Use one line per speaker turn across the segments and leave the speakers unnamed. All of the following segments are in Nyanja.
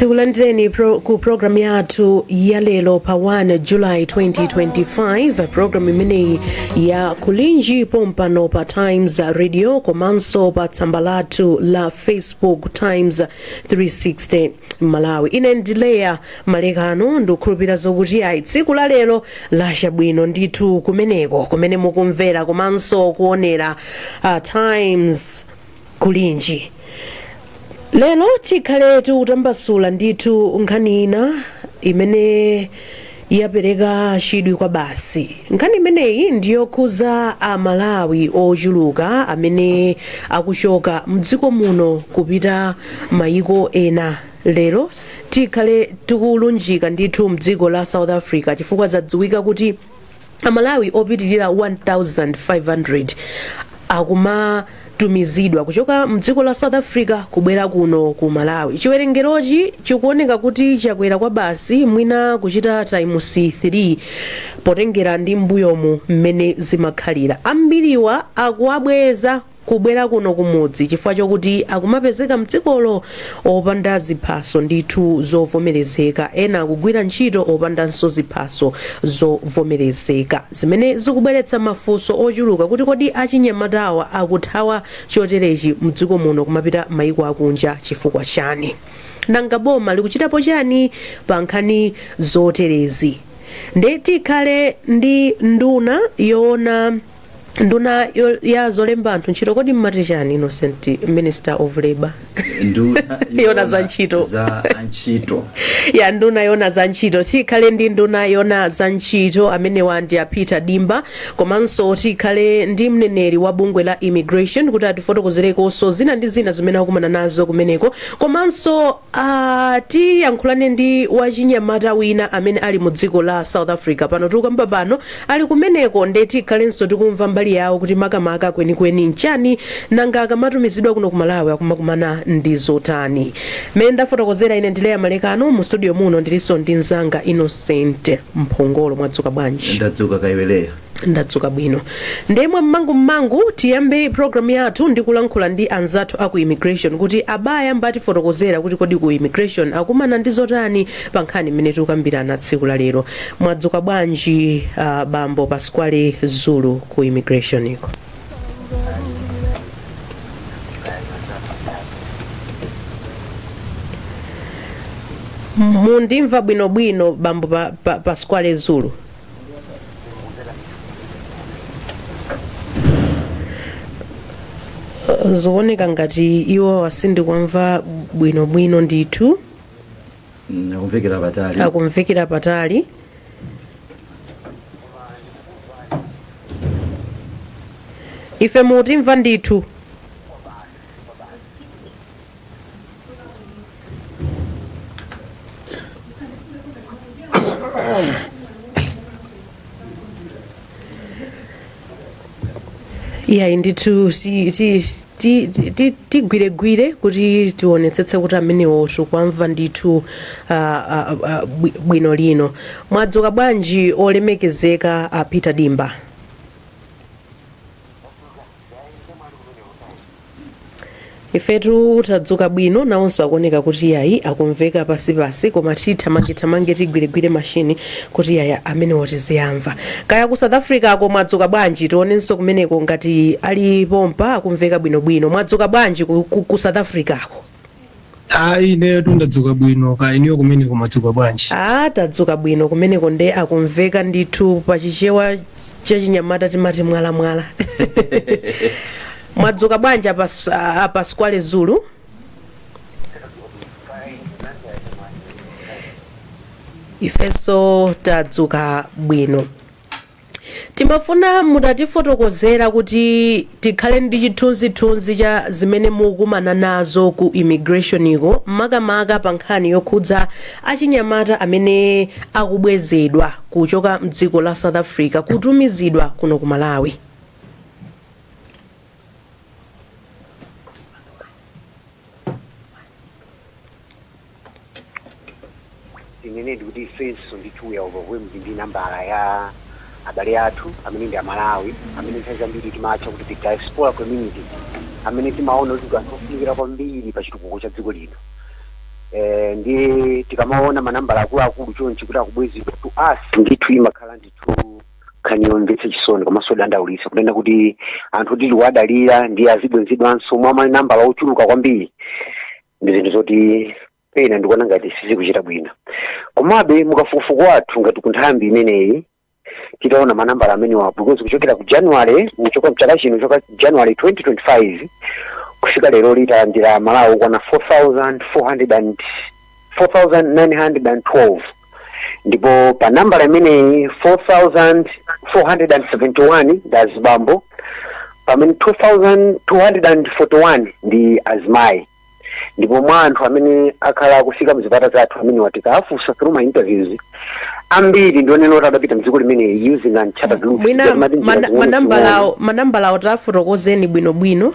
Tikulandireni pro- ku programu yathu ya lero pa 1 julayi 2025 programu imeneyi ya Kulinji pompano pa Times Radio komanso pa tsamba lathu la Facebook Times 360 Malawi ine ndi Leya Malekano ndikukhulupirira zokuti ayi tsiku la lero lacha bwino ndithu kumeneko kumene mukumvera komanso kuonera uh, Times Kulinji lero tikhale tikutambasula ndithu nkhani ina imene Yapereka chidwi kwabasi. Nkhani imeneyi ndi yokhuza a Malawi ochuluka amene akuchoka mdziko muno kupita mayiko ena. Lero tikhale tikulunjika ndithu mdziko la South Africa chifukwa zadziwika kuti. Amalawi opitirira 1,500 akumatumizidwa kuchoka mdziko la South Africa kubwera kuno ku Malawi. Chiwerengerochi chikuoneka kuti chakwera kwabasi mwina kuchita times 3 potengera ndi m'mbuyomu mmene zimakhalira. Ambiriwa akuwabweza kubwera kuno kumudzi chifukwa chokuti akumapezeka mdzikolo opanda ziphaso ndithu zovomerezeka, ena akugwira ntchito opandanso ziphaso zovomerezeka, zimene zikubweretsa mafunso ochuluka kuti kodi achinyamatawa akuthawa choterechi mdziko muno kumapita maiko akunja chifukwa chani? Nanga boma likuchitapo chani pa nkhani zoterezi? Nde tikhale ndi nduna yoona. nduna yo- ya zolemba anthu ntchito kodi mmati chani Innocent Minister of Labour nduna yoona za ntchito. za antchito ya nduna yoona za ntchito tikhale ndi nduna yoona za ntchito amenewa ndi a Peter Dimba komanso tikhale ndi mneneri wa bungwe la immigration kuti atifotokozerekonso zina ndi zina zimene akumana nazo kumeneko komanso Ah, tiyankhulane ndi wachinyamata wina amene ali mu dziko la South Africa pano tikukamba pano ali kumeneko nde tikhalenso tikumva mbali yawo kuti makamaka kwenikweni nchani nanga akamatumizidwa kuno ku Malawi akumakumana ndi zotani mmene ndafotokozera ine ndi Leya Malekano mu studio muno ndilinso ndi mzanga Innocent Mphongolo mwadzuka bwanji ndadzuka kaya iwe Leya
ndadzuka
bwino ndi inu mmangu mmangu tiyambe program yathu ndi kulankhula ndi anzathu aku immigration kuti abayambatifotokozera kuti kodi ku immigration akumana ndi zotani pa nkhani imene tikukambirana tsiku la lero mwadzuka bwanji uh, bambo pasquale zulu ku immigration-ko mundimva bwinobwino bambo pa, pa, pasquale zulu zikuoneka ngati iwo sindikuwamva bwinobwino ndithu Mm, akumvekera patali akumvekera patali ife mutimva ndithu iyayi ndithu si- ti- ti- ti- ti- tigwiregwire kuti tionetsetse kuti amenewo tikuwamva ndithu ah, ah, ah, bwi- bwinobwino mwadzuka bwanji olemekezeka a peter dimba ifetu tadzuka bwino nawonso akuoneka kuti yayi akumveka pansipansi koma tithamangithamange tigwiregwire mashini kuti yayi amenewo tiziwamva kaya ku south africa-ko mwadzuka bwanji tionenso kumeneko ngati ali pompa akumveka bwinobwino mwadzuka bwanji ku, ku, ku south africa-ko
ayi ineyo tu ndadzuka bwino kaya inuyo kumeneko mwadzuka bwanji a tadzuka
bwino kumeneko nde akumveka ndithu pa chichewa chachinyamata timati mwalamwala mwadzuka bwanji a pa, a pasquale zulu ifenso tadzuka bwino Timafuna mutatifotokozera kuti tikhale ndi chithunzithunzi cha zimene mukumana nazo ku immigration ko makamaka pa nkhani yokhudza achinyamata amene akubwezedwa kuchoka mdziko la South Africa kutumizidwa kuno ku Malawi.
Tinenedi kuti ifenso ndithu we are overwhelmed ndi nambala
ya abale athu amene ndi amalawi amene nthawi zambiri timatcha kuti the diaspora community amene timaona kuti ndi anthu ofunikira kwambiri pa chitukuko cha dziko lino eh, ndiye tikamaona manambala akuluakulu chonchi kuti akubwezedwa to us ndithu imakhala ndithu nkhani yomvetsa chisoni komanso yodandaulitsa kunena kuti anthu oti tikuwadalira ndiye azibwenzedwanso mwa manambala ochuluka kwambiri ndi zinthu zoti pena ndikuona ngati sizikuchita bwino komabe mukafukufuku wathu ngati ku nthambi imeneyi titaona manambala amenewa because kuchokera ku january kuchoka mchaka chino choka january 2025 kufika lero tidalandira amalawi okwana 4400 and 4912 ndipo pa nambala imeneyi 4471 ndi azibambo pamene 2241 ndi azimayi ndipo mwa anthu amene akhala akufika mzipata zathu amene tikawafunsa through ma interviews ambiri ndionena kuti adapita mdziko limeneli using uncharted routes mwina Ndikuti mati njira mana- zimene
manambalawo manambalawo tafotokozeni bwinobwino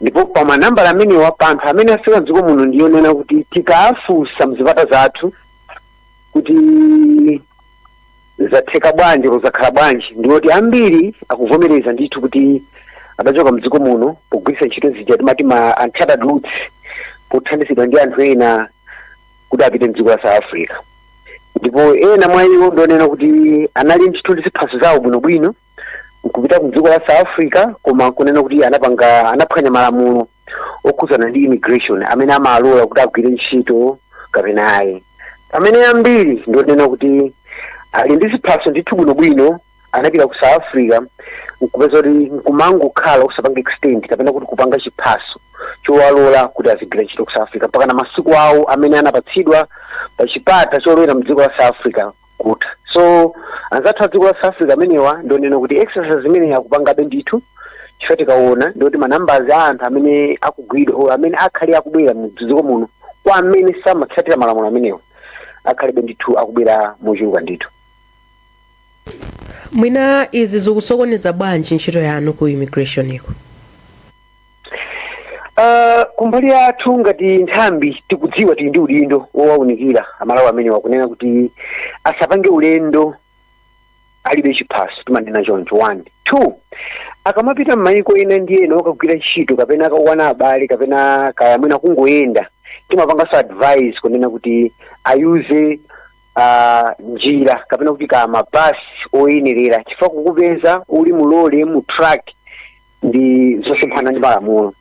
ndipo pa manambala amenewa pa anthu amene afika mdziko muno ndiyonena kuti tikawafunsa mzipata zathu kuti zatheka bwanji kuzakhala bwanji ndiwoti ambiri akuvomereza ndithu kuti adachoka mdziko muno pogwiritsa ntchito zija timati ma uncharted routes pothandizidwa ndi anthu ena kuti apite mdziko la south africa ndipo ena mwa iwo ndionena kuti anali ndithu ndi ziphaso zawo bwinobwino nkupita ku dziko la south africa koma kunena kuti anapanga anaphwanya malamulo okhudzana ndi immigration amene amawalola kuti agwire ntchito kapena ayi pamene ambiri ndionena kuti ali ndi ziphaso ndithu bwinobwino anapita ku south africa nkupeza kuti nkumangokhala osapanga extend kapena kuti kupanga chiphaso chowalola kuti azigwira ntchito ku south africa mpaka na masiku awo amene anapatsidwa pa chipata cholowera mdziko la south africa kutha so anzathu a dziko la south africa amenewa ndionena kuti exercise imene akupangabe ndithu chifukwa tikaona ndikuti manambala a anthu amene akugwidwa or amene akhala akubwera mu dziko muno kwa amene samatsatira malamulo amenewa akhalebe ndithu akubwera mochuluka
ndithu mwina izi zikusokoneza bwanji ntchito yanu ku immigration iko
Uh, kumbali yathu ngati nthambi tikudziwa tili ndi udindo wowaunikira amalawi amenewa kunena kuti asapange ulendo alibe chiphaso timanena choncho one two akamapita m'mayiko ena ndi ena okagwira ntchito kapena akawona abale kapena kaya mwina kungoyenda timapanganso advice kunena kuti ayuze uh, njira kapena kuti kaya mabasi oyenerera chifukwa kukupeza uli mu lole mu truck ndi zosemphana ndi malamulo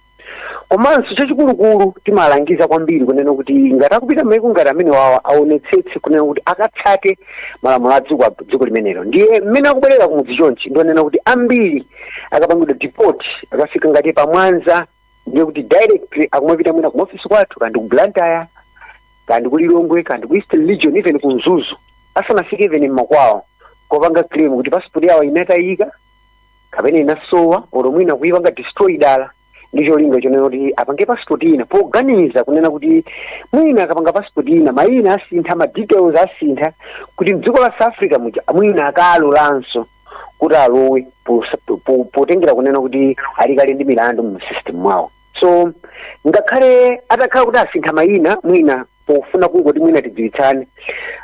komanso chachikulukulu timalangiza kwambiri kunena kuti ngati akupita maiko ngati amenewawa aonetsetse kunena kuti akatsate malamulo a dziko a dziko limenelo ndiye mmene akubwerera kumudzi chonchi ndionena kuti ambiri akapangidwa deport akafika ngati pamwanza ndiye kuti directly akumapita mwina kumaofisi kwathu kaya ndi ku blantyre kaya ndi ku lilongwe kaya ndi ku eastern region even ku mzuzu asanafike even mmakwawo kupanga claim kuti passport yawo inatayika kapena inasowa olo mwina kuipanga destroy dala ndi cholinga chonena kuti apange passport ina poganiza kunena kuti mwina akapanga passport ina mayina asintha ma details asintha kuti mdziko la south africa muja mwina akalolanso kuti alowe pos- po- po- potengera kunena kuti ali kale ndi milandu mu system mwawo so ngakhale atakhala kuti asintha mayina mwina pofuna kungoti mwina tidziwitsane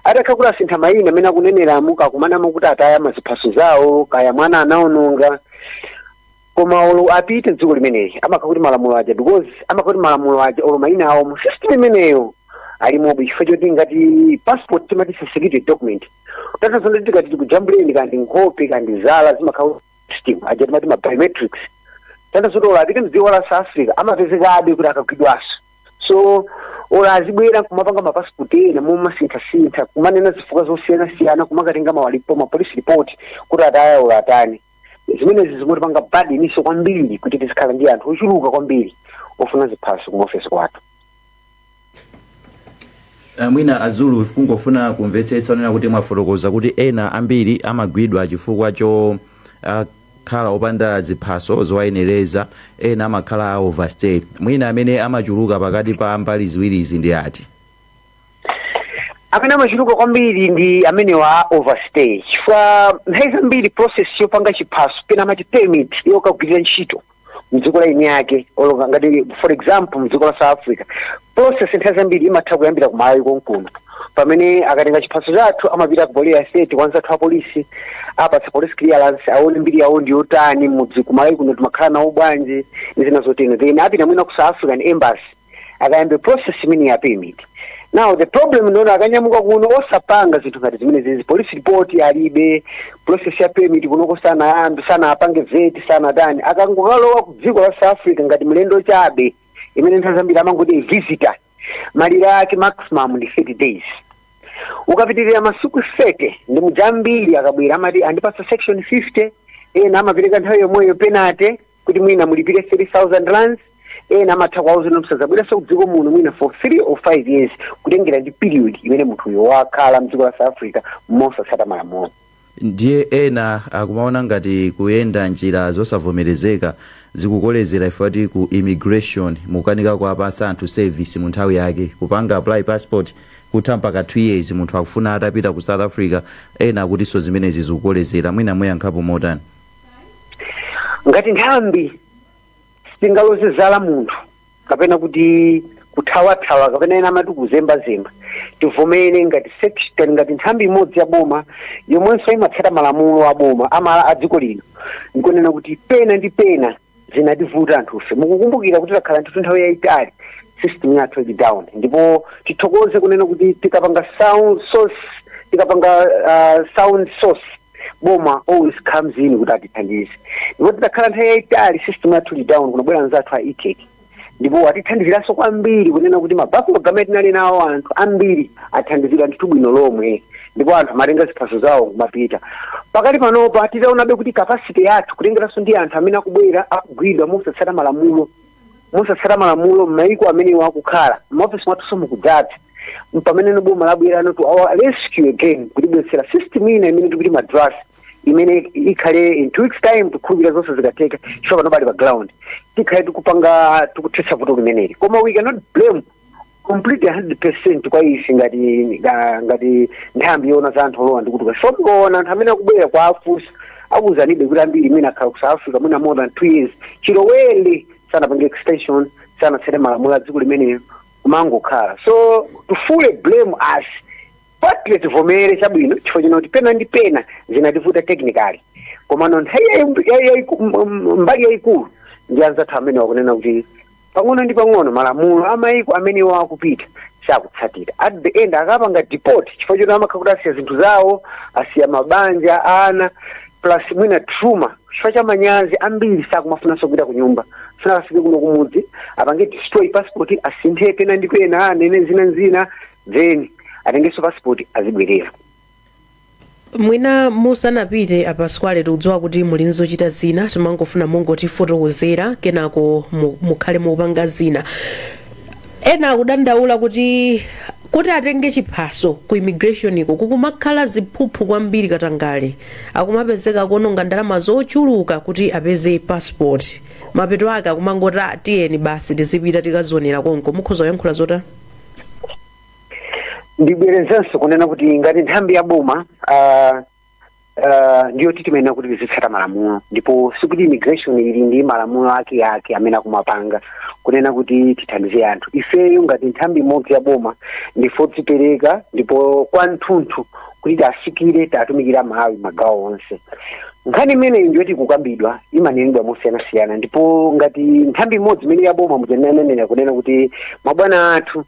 atakha kuti asintha mayina amene akuneneramu kakumanamo kuti ataya maziphaso zawo kaya mwana anaononga koma olo apite dziko limeneli amakha kuti malamulo aja because amakha kuti malamulo aja olo mayina awo mu system imeneyo alimobe chifukwa choti ngati passport timati security document tatazonda tikati tikujambuleni kandi nkhope kandi zala zimakha system aja timati ma biometrics tatazonda olo apite mdziko la south africa amapezekabe kuti akagwidwanso so olo azibwera kumapanga mapasipoti ena mmomasinthasintha kumanena zifukwa zosiyanasiyana kumakatenga ma report ma police report kuti ataya olo atani zimenezi zimatipanga burdenso kwambiri kuti tizikhala ndi anthu ochuluka kwambiri ofuna ziphaso kumaofesi
kwathu Ah, mwina a Zulu kungofuna kumvetsetsa ponena kuti mwafotokoza kuti ena ambiri amagwidwa chifukwa cho ah, khala opanda ziphaso zowayenereza, ena amakhala a overstay. Mwina amene amachuluka pakati pa mbali ziwirizi ndi ati?
amene amachuluka kwambiri ndi amene wa a overstay chifukwa nthawi zambiri process yopanga chiphaso pena amati permit yokagwirira ntchito mdziko la eni ake olo nga ngati for example mdziko la south africa process nthawi zambiri imatha kuyambira kumalawi konkuno pamene akatenga chiphaso chathu amapita ku police station kwa anzathu apolisi apatsa police clearance aone mbiri yawo ndi yotani mudzi kumalawi kuno timakhala nawo bwanji ndi zina zotero then apita mwina ku south african embassy akayambe process imene ya permit now the problem ndi yoti akanyamuka kuno osapanga zinthu ngati zimenezizi police report alibe process ya permit kunoko sanayambe sanapange vet sanatani akangokalowa ku dziko la south africa ngati mlendo chabe imene nthawi zambiri amangoti visitor malire ake maximum ndi 30 days ukapitirira masiku 30 ndi muja ambiri akabwera amati andipatsa section 50 ena amapereka nthawi yomweyo penalty kuti mwina mulipire 3000 rands ena amatha kuwauza kuti musadzabweranso kudziko muno mwina for 3 or 5 years kutengera ndi period imene munthuyo wakhala mdziko la south africa mosatsata malamulo ndiye
ena akumaona ngati kuyenda njira zosavomerezeka zikukolezera ife akuti ku immigration mukukanika kuwapatsa anthu service mu nthawi yake kupanga apply passport kutha mpaka 2 years munthu akufuna atapita ku south africa ena akutinso zimenezi zikukolezera mwina muyankhapo motani
ngati nthambi sitingaloze chala munthu kapena kuti kuthawathawa kapena ena amati kuzembazemba tivomere ngati section ngati nthambi imodzi ya boma yomwenso imatsata malamulo a boma amala- a dziko lino ndikunena kuti pena ndi pena zimativuta anthufe mukukumbukira kuti takhala ndithu nthawi yayitali system yathu ili down ndipo tithokoze kunena kuti tikapanga SOS tikapanga uh, sound SOS boma always comes in kuti atithandize ndipo titakhala nthawi yayitali system yathu ili down kunabwera anzathu a etec ndipo atithandiziranso kwambiri kunena kuti ma backlog amene tinali nawo anthu ambiri athandizidwa ndithu bwino lomwe ndipo anthu amatenga ziphaso zawo n'kumapita pakati panopa titaonabe kuti capacity yathu kutengeranso ndi anthu amene akubwera akugwidwa mosatsata malamulo mosatsata malamulo m'mayiko amenewo akukhala m'maofesi mwathunso mukudzadza mpamene boma labweranso to our rescue again kutibweretsera system ina imene tikuti madrasi imene ikhale in two weeks time tikhulupirira zonse zikatheka chifukwa pano ali pa ground tikhale tikupanga tikuthetsa vuto limeneli koma we cannot blame completely 100% kwa ife ngati nga- ngati nthambi yoona za anthu olowa ndi kutuluka so tikaona anthu amene akubwera kuwafunsa akuuzanibe kuti ambiri amene akhala ku south africa mwina more than two years chilowere sanapange extension sanatsate malamulo a dziko limenelo kumangokhala so to fully blame us partly tivomere chabwino chifukwa chonena kuti pena ndi pena zimativuta technically komano nthawi yayi- yayi- yayiku- m- m- mbali yayikulu ndi anzathu amenewa kunena kuti pang'ono ndi pang'ono malamulo amayiko amene iwo akupita sakutsatira at the end akapanga deport chifukwa choti amakhala kuti asiya zinthu zawo asiya mabanja ana plus mwina trauma chifukwa cha manyazi ambiri sakumafunanso kupita ku nyumba afuna akafike kuno kumudzi apange destroy passport asinthe pena ndi pena anene dzina lina then atengenso passport
azibwerera mwina musanapite a Pasqually tikudziwa kuti muli n'zochita zina timangofuna mungotifotokozera kenako mu- mukhale mukupanga zina ena akudandaula kuti kuti atenge chiphaso ku immigration iko kukumakhala ziphuphu kwambiri katangale akumapezeka kuononga ndalama zochuluka kuti apeze passport mapeto ake akumangoti ah, tiyeni basi tizipita tikazionera konko mukhoza kuyankhula zotani
ndibwerezenso kunena kuti ngati nthambi ya boma ah, ah, ndiye kuti timayenera kuti tizitsata malamulo ndipo sikuti immigration ili ndi malamulo ake ake amene akumapanga kunena kuti tithandize anthu ifeyo ngati nthambi imodzi ya boma ndife odzipereka ndipo kwa tunthu kuti tiwafikire tiwatumikire aMalawi magawo onse nkhani imeneyi ndiyoti ikukambidwa imanenedwa mosiyanasiyana ndipo ngati nthambi imodzi imene yaboma mmene ndanenera kunena kuti mabwana athu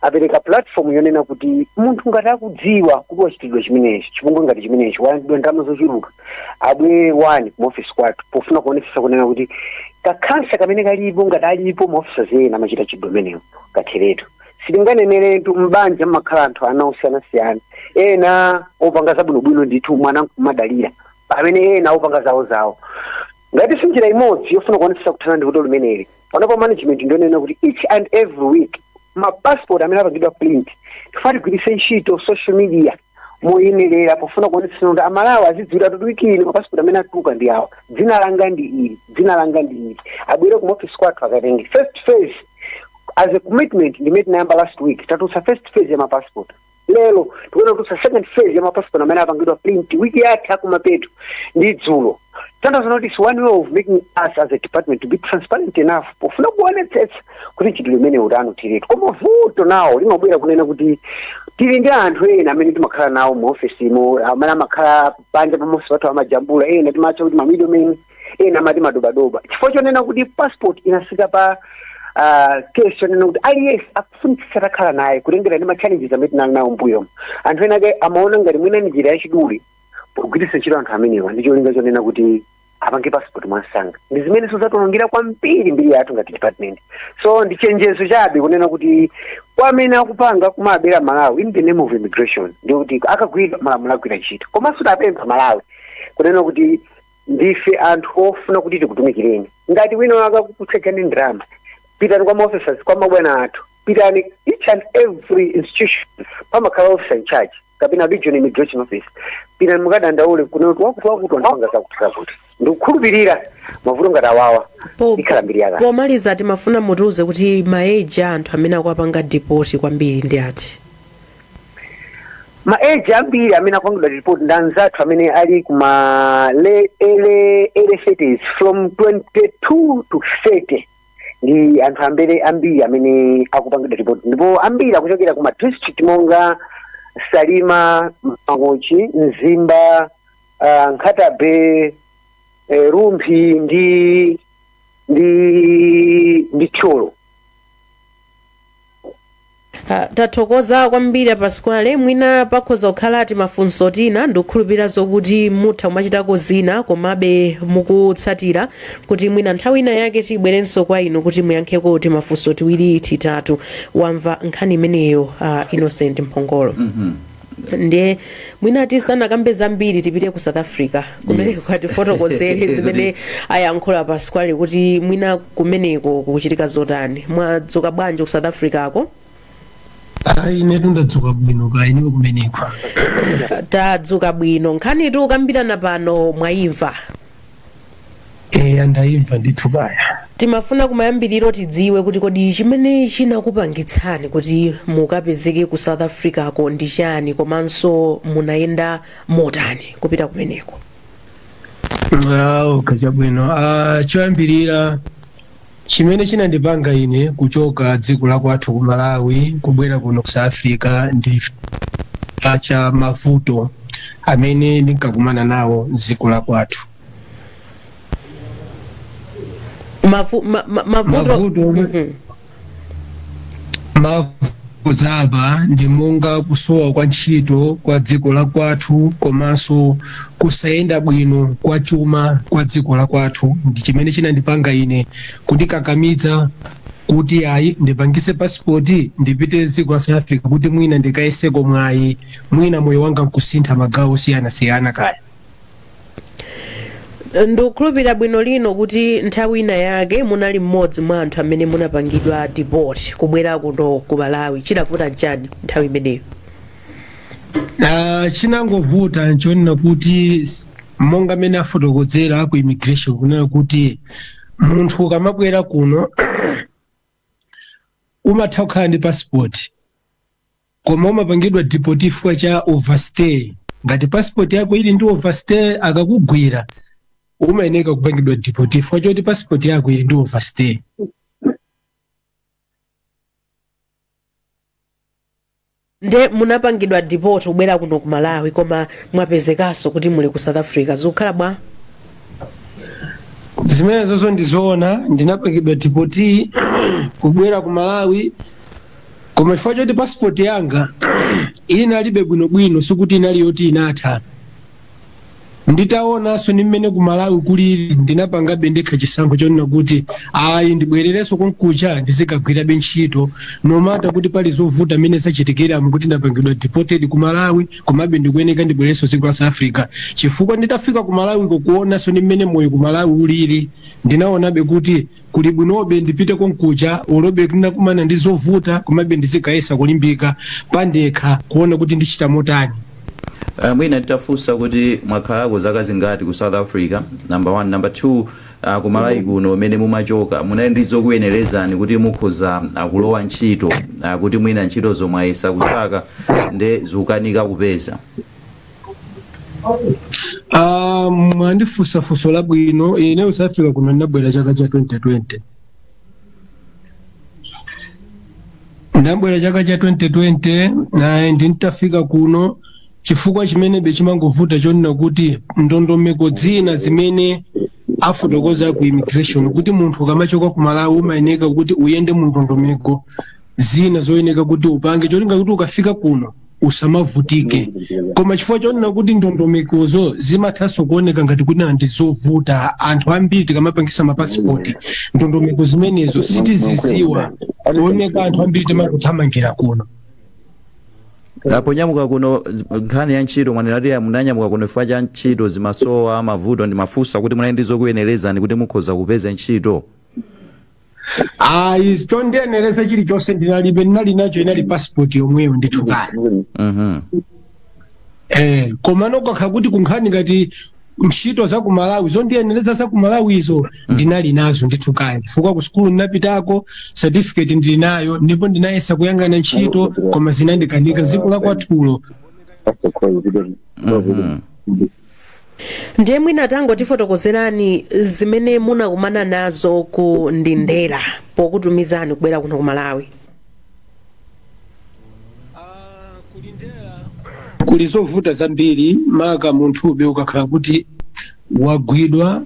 apereka platform yonena kuti munthu ngati akudziwa kuti wachitidwa chimenechi chipongwe ngati chimenechi walandidwa ndalama zochuluka abwere owo kumaofisi kwathu pofuna kuonetsetsa kunena kuti kakhansa kamene kalipo ngati alipo maofisazi ena amachita mchitidwe umenewu katheretu sitinganeneretu m'banja mmakhala anthu ana osiyanasiyana ena opanga zabwinobwino ndithu mwana nkumadalira pamene ena opanga zawo zawo ngati njira imodzi yofuna kuonetsetsa kuthana ndi vuto limeneli panopa management ndionena kuti each and every week mapassport amene apangidwa print tifuna tigwiritse ntchito social media moyenerera pofuna kuonetsetsa kuti amalawi azidziwira kuti wiki ino mapasipoti amene atuluka ndi awa dzina langa ndi ili dzina langa ndi ili abwere kumaofisi kwathu akatenge first phase as a commitment ndimene tinayamba last week tatulutsa first phase ya mapasipoti lero tikufuna kutulutsa second phase ya mapasipoti amene apangidwa print wiki yatha yakumapeto ndi dzulo tanthauzo loti it's one way of making us as a department to be transparent enough pofuna kuonetsetsa kuti mchitidwe umenewu utha ndithu koma vuto nalo limabwera kunena kuti tili ndi anthu ena amene timakhala nawo mu ofesimo amene amakhala panja pamaofesi pathu amajambula ena timatcha kuti mamidomeni ena amati madobadoba chifukwa chonena kuti passport inafika pa ah, case yonena kuti aliyense akufunitsitsa atakhala nayo kutengera ndi machallenges amene tinali nawo mbuyomu anthu ena ake amaona ngati mwina ndi njira yachidule pogwiritsa ntchito anthu amenewa ndi cholinga chonena kuti apange passport mwansanga ndi zimene zatiwonongera kwambiri mbiri yathu ngati department so ndi chenjezo chabe kunena kuti kwa amene akupanga kumabera amalawi in the name of immigration ndi kuti akagwidwa malamulo agwira ntchito komanso tawapempha amalawi kunena kuti ndife anthu ofuna kuti tikutumikireni ngati wina wake akakutchajani ndalama pitani kwa maoffices kwa mabwana athu pitani each and every institution pamakhala officer in charge kapena regional immigration officer pitani mukadandaule kunena kuti wakuti wakuti wandipanga zakuti zakuti ndikukhulupirira mavuto ngati awawa ikhala mbiri yakale pomaliza timafuna
mutiuze kuti maeji a anthu amene akuwapanga deport kwambiri ndi
ati maeji ambiri amene akupangidwa deport ndi anzathu amene ali kuma e early early thirties from 22 to 30 ndi anthu ambiri ambiri amene akupangidwa deport ndipo ambiri akuchokera ku madistrict monga salima mangochi mzimba uh, nkhatabe eh, rumphi ndi ndi ndi thyolo
Ah, tathokoza kwambiri apasquale mwina pakhoza kukhala timafunso tina ndikukhulupirira zokuti mutha kumachitako zina komabe mukutsatira kuti mwina nthawi ina yake tibwerenso kwa inu kuti muyankheko timafunso tiwiri titatu wamva nkhani imeneyo ah, innocent mphongolo ndiye mwina tisanakambe zambiri tipite ku south africa kumeneko akatifotokozere zimene ayankhula Pasquale kuti mwina kumeneko kukuchitika zotani mwadzuka bwanji ku south africa
ko ayi inetu ndadzuka bwino kaya inu kumeneko
tadzuka bwino nkhani tikukambirana pano mwayimva eya
ndayimva ndithu kaya timafuna kumayambiriro
tidziwe kuti kodi chimene chinakupangitsani kuti mukapezeke ku south africa ko ndi chani komanso munayenda motani kupita kumeneko Ah,
okay chabwino Ah, choyambirira Chimene chinandipanga ine kuchoka dziko la kwathu ku Malawi kubwera kuno ku South Africa ndi chifukwa cha mavuto amene ndinkakumana nawo m'dziko la kwathu. Mavu, ma, ma, mavuto ake ndi monga kusowa kwa ntchito kwa dziko la kwathu komanso kusayenda bwino kwa chuma kwa dziko la kwathu ndi chimene chinandipanga ine kundikakamidza kuti ayi ndipangise pasipoti ndipite dziko la south africa kuti mwina ndikayeseko mwayi mwina moyo wanga nkusintha magawo osiyanasiyana kaya
ndikukhulupirira bwino lomwe kuti nthawi ina yake munali mmodzi mwa anthu amene munapangidwa deport kubwera kuno ku malawi chidavuta nchani nthawi imeneyo Ah,
chinangovuta nchonena kuti s- monga amene afotokozera aku immigration kunena kuti munthu ukamabwera kuno umatha kukhala ndi passport Koma umapangidwa deport chifukwa cha overstay. Ngati passport yako ili ndi overstay akakugwira umayeneka kupangidwa deport chifukwa choti passport yako ili ndi overstay.
nde munapangidwa deport kubwera kuno ku malawi koma mwapezekaso kuti muli ku south africa zikukhala bwa
Zimenezozo ndizoona ndinapangidwa deport kubwera ku Malawi koma chifukwa choti passport yanga inali be bwinobwino sikuti inali yoti inatha nditaonanso ndi mmene ku malawi kulili ndinapangabe ndekha chisankho chonena kuti ayi ndibwererenso konkuja ndizikagwirabe ntchito nomata kuti pali zovuta mmene zachitikiramu kuti ndapangidwa deported ku malawi komabe ndikuyeneka ndibwererenso dziko la south africa chifukwa nditafika ku malawiko kuonanso ndi mmene moyo ku malawi ulili ndinaonabe kuti Kuli bwinobe ndipite konkuja olobe kuti ndakumana ndi zovuta komabe ndizigayesa kulimbika pandekha kuona kuti ndichita motani.
Uh, mwina nditafunsa kuti mwakhalako zaka zingati ku south africa number one number two uh, ku malawi kuno umene mumachoka munali ndi zokuyenerezani kuti mukhoza uh, kulowa ntchito uh, kuti mwina ntchito zomwe mwayesa kusaka nde zikukanika kupeza
Ah, mwandifunsa funso labwino ine South Africa kuno ndinabwera chaka cha 2020 ndabwera chaka cha 2020 naye ndintafika kuno chifukwa chimenebe chimangovuta chonena kuti ndondomeko zina zimene amafotokoza ku immigration kuti munthu ukamachoka ku malawi umayeneka kuti uyende mu ndondomeko zina zoyeneka kuti upange cholinga kuti ukafika kuno usamavutike koma chifukwa chonena kuti ndondomekozo zimathanso kuoneka ngati kunena ndi zovuta anthu ambiri tikamapangisa mapasipoti ndondomeko zimenezo sitiziziwa kuoneka anthu ambiri timangothamangira kuno
ponyamuka kuno z- nkhani ya ntchito mwanena kuti munanyamuka kuno chifukwa cha ntchito zimasowa mavuto ndimafunsa kuti munali ndi zokuyenerezani kuti mukhoza kupeza ntchito
ayi chondiyenereza chilichonse ndinalibe ndinali nacho inali pasipoti yomweyo ndithu kaya Mhm. Eh, komano kakha kuti kunkhani ngati ntchito za ku malawi zondiyenereza za ku malawizo ndinali nazo ndithu kaya chifukwa ku sukulu ndinapitako certificate ndili nayo ndipo ndinayesa kuyang'ana ntchito koma zinandikanika mdziko la kwathulo Mhm.
ndiye mwina tangotifotokozerani zimene munakumana nazo ku Lindela pokutumizani kubwera kuno ku malawi
kuli zovuta zambiri maka munthube ukakhala kuti wagwidwa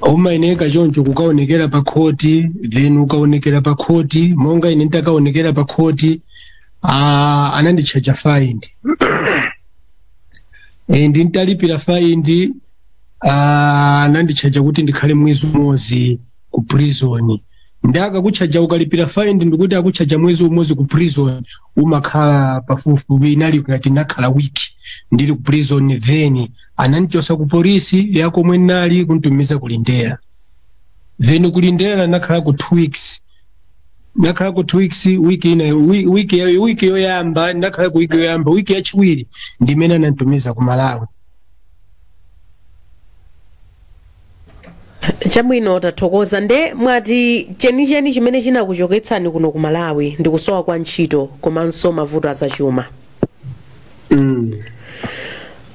umayeneka choncho kukaonekera pa khoti then ukaonekera pa khoti monga ine nditakaonekera pa khoti ah, ananditchaja fine e, ndintalipira faindi ah, ananditchaja kuti ndikhale mwezi umodzi ku prison nde akakutchaja ukalipira faindi ndikuti akutchaja mwezi umodzi ku prison umakhala pafupifupi inali ngati nakhala wiki ndili ku prison then anandichosa ku polisi ya komwe nali kunditumiza ku Lindela then ku Lindela nakhalako two weeks ndakhalako two weeks wiki ina wi- wiki ya- wiki yoyamba ndakhalako wiki yoyamba wiki yachiwiri ndimene anantumiza ku malawi
chabwino tathokoza nde mwati chenicheni chimene chinakuchoketsani kuno ku malawi ndi kusowa kwa ntchito komanso mavuto azachuma mm.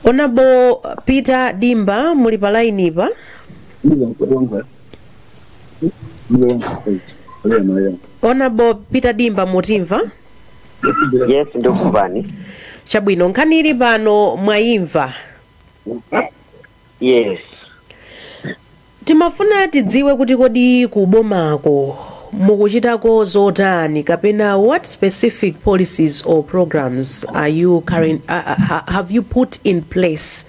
honourable peter dimba muli pa lainipa honorable peter dimba
mutimva yes ndikumvani chabwino
nkhani ili pano mwayimva
yes
timafuna tidziwe kuti kodi kubomako mukuchitako zotani kapena what specific policies or programs are you current, uh, uh, ha- have you put in place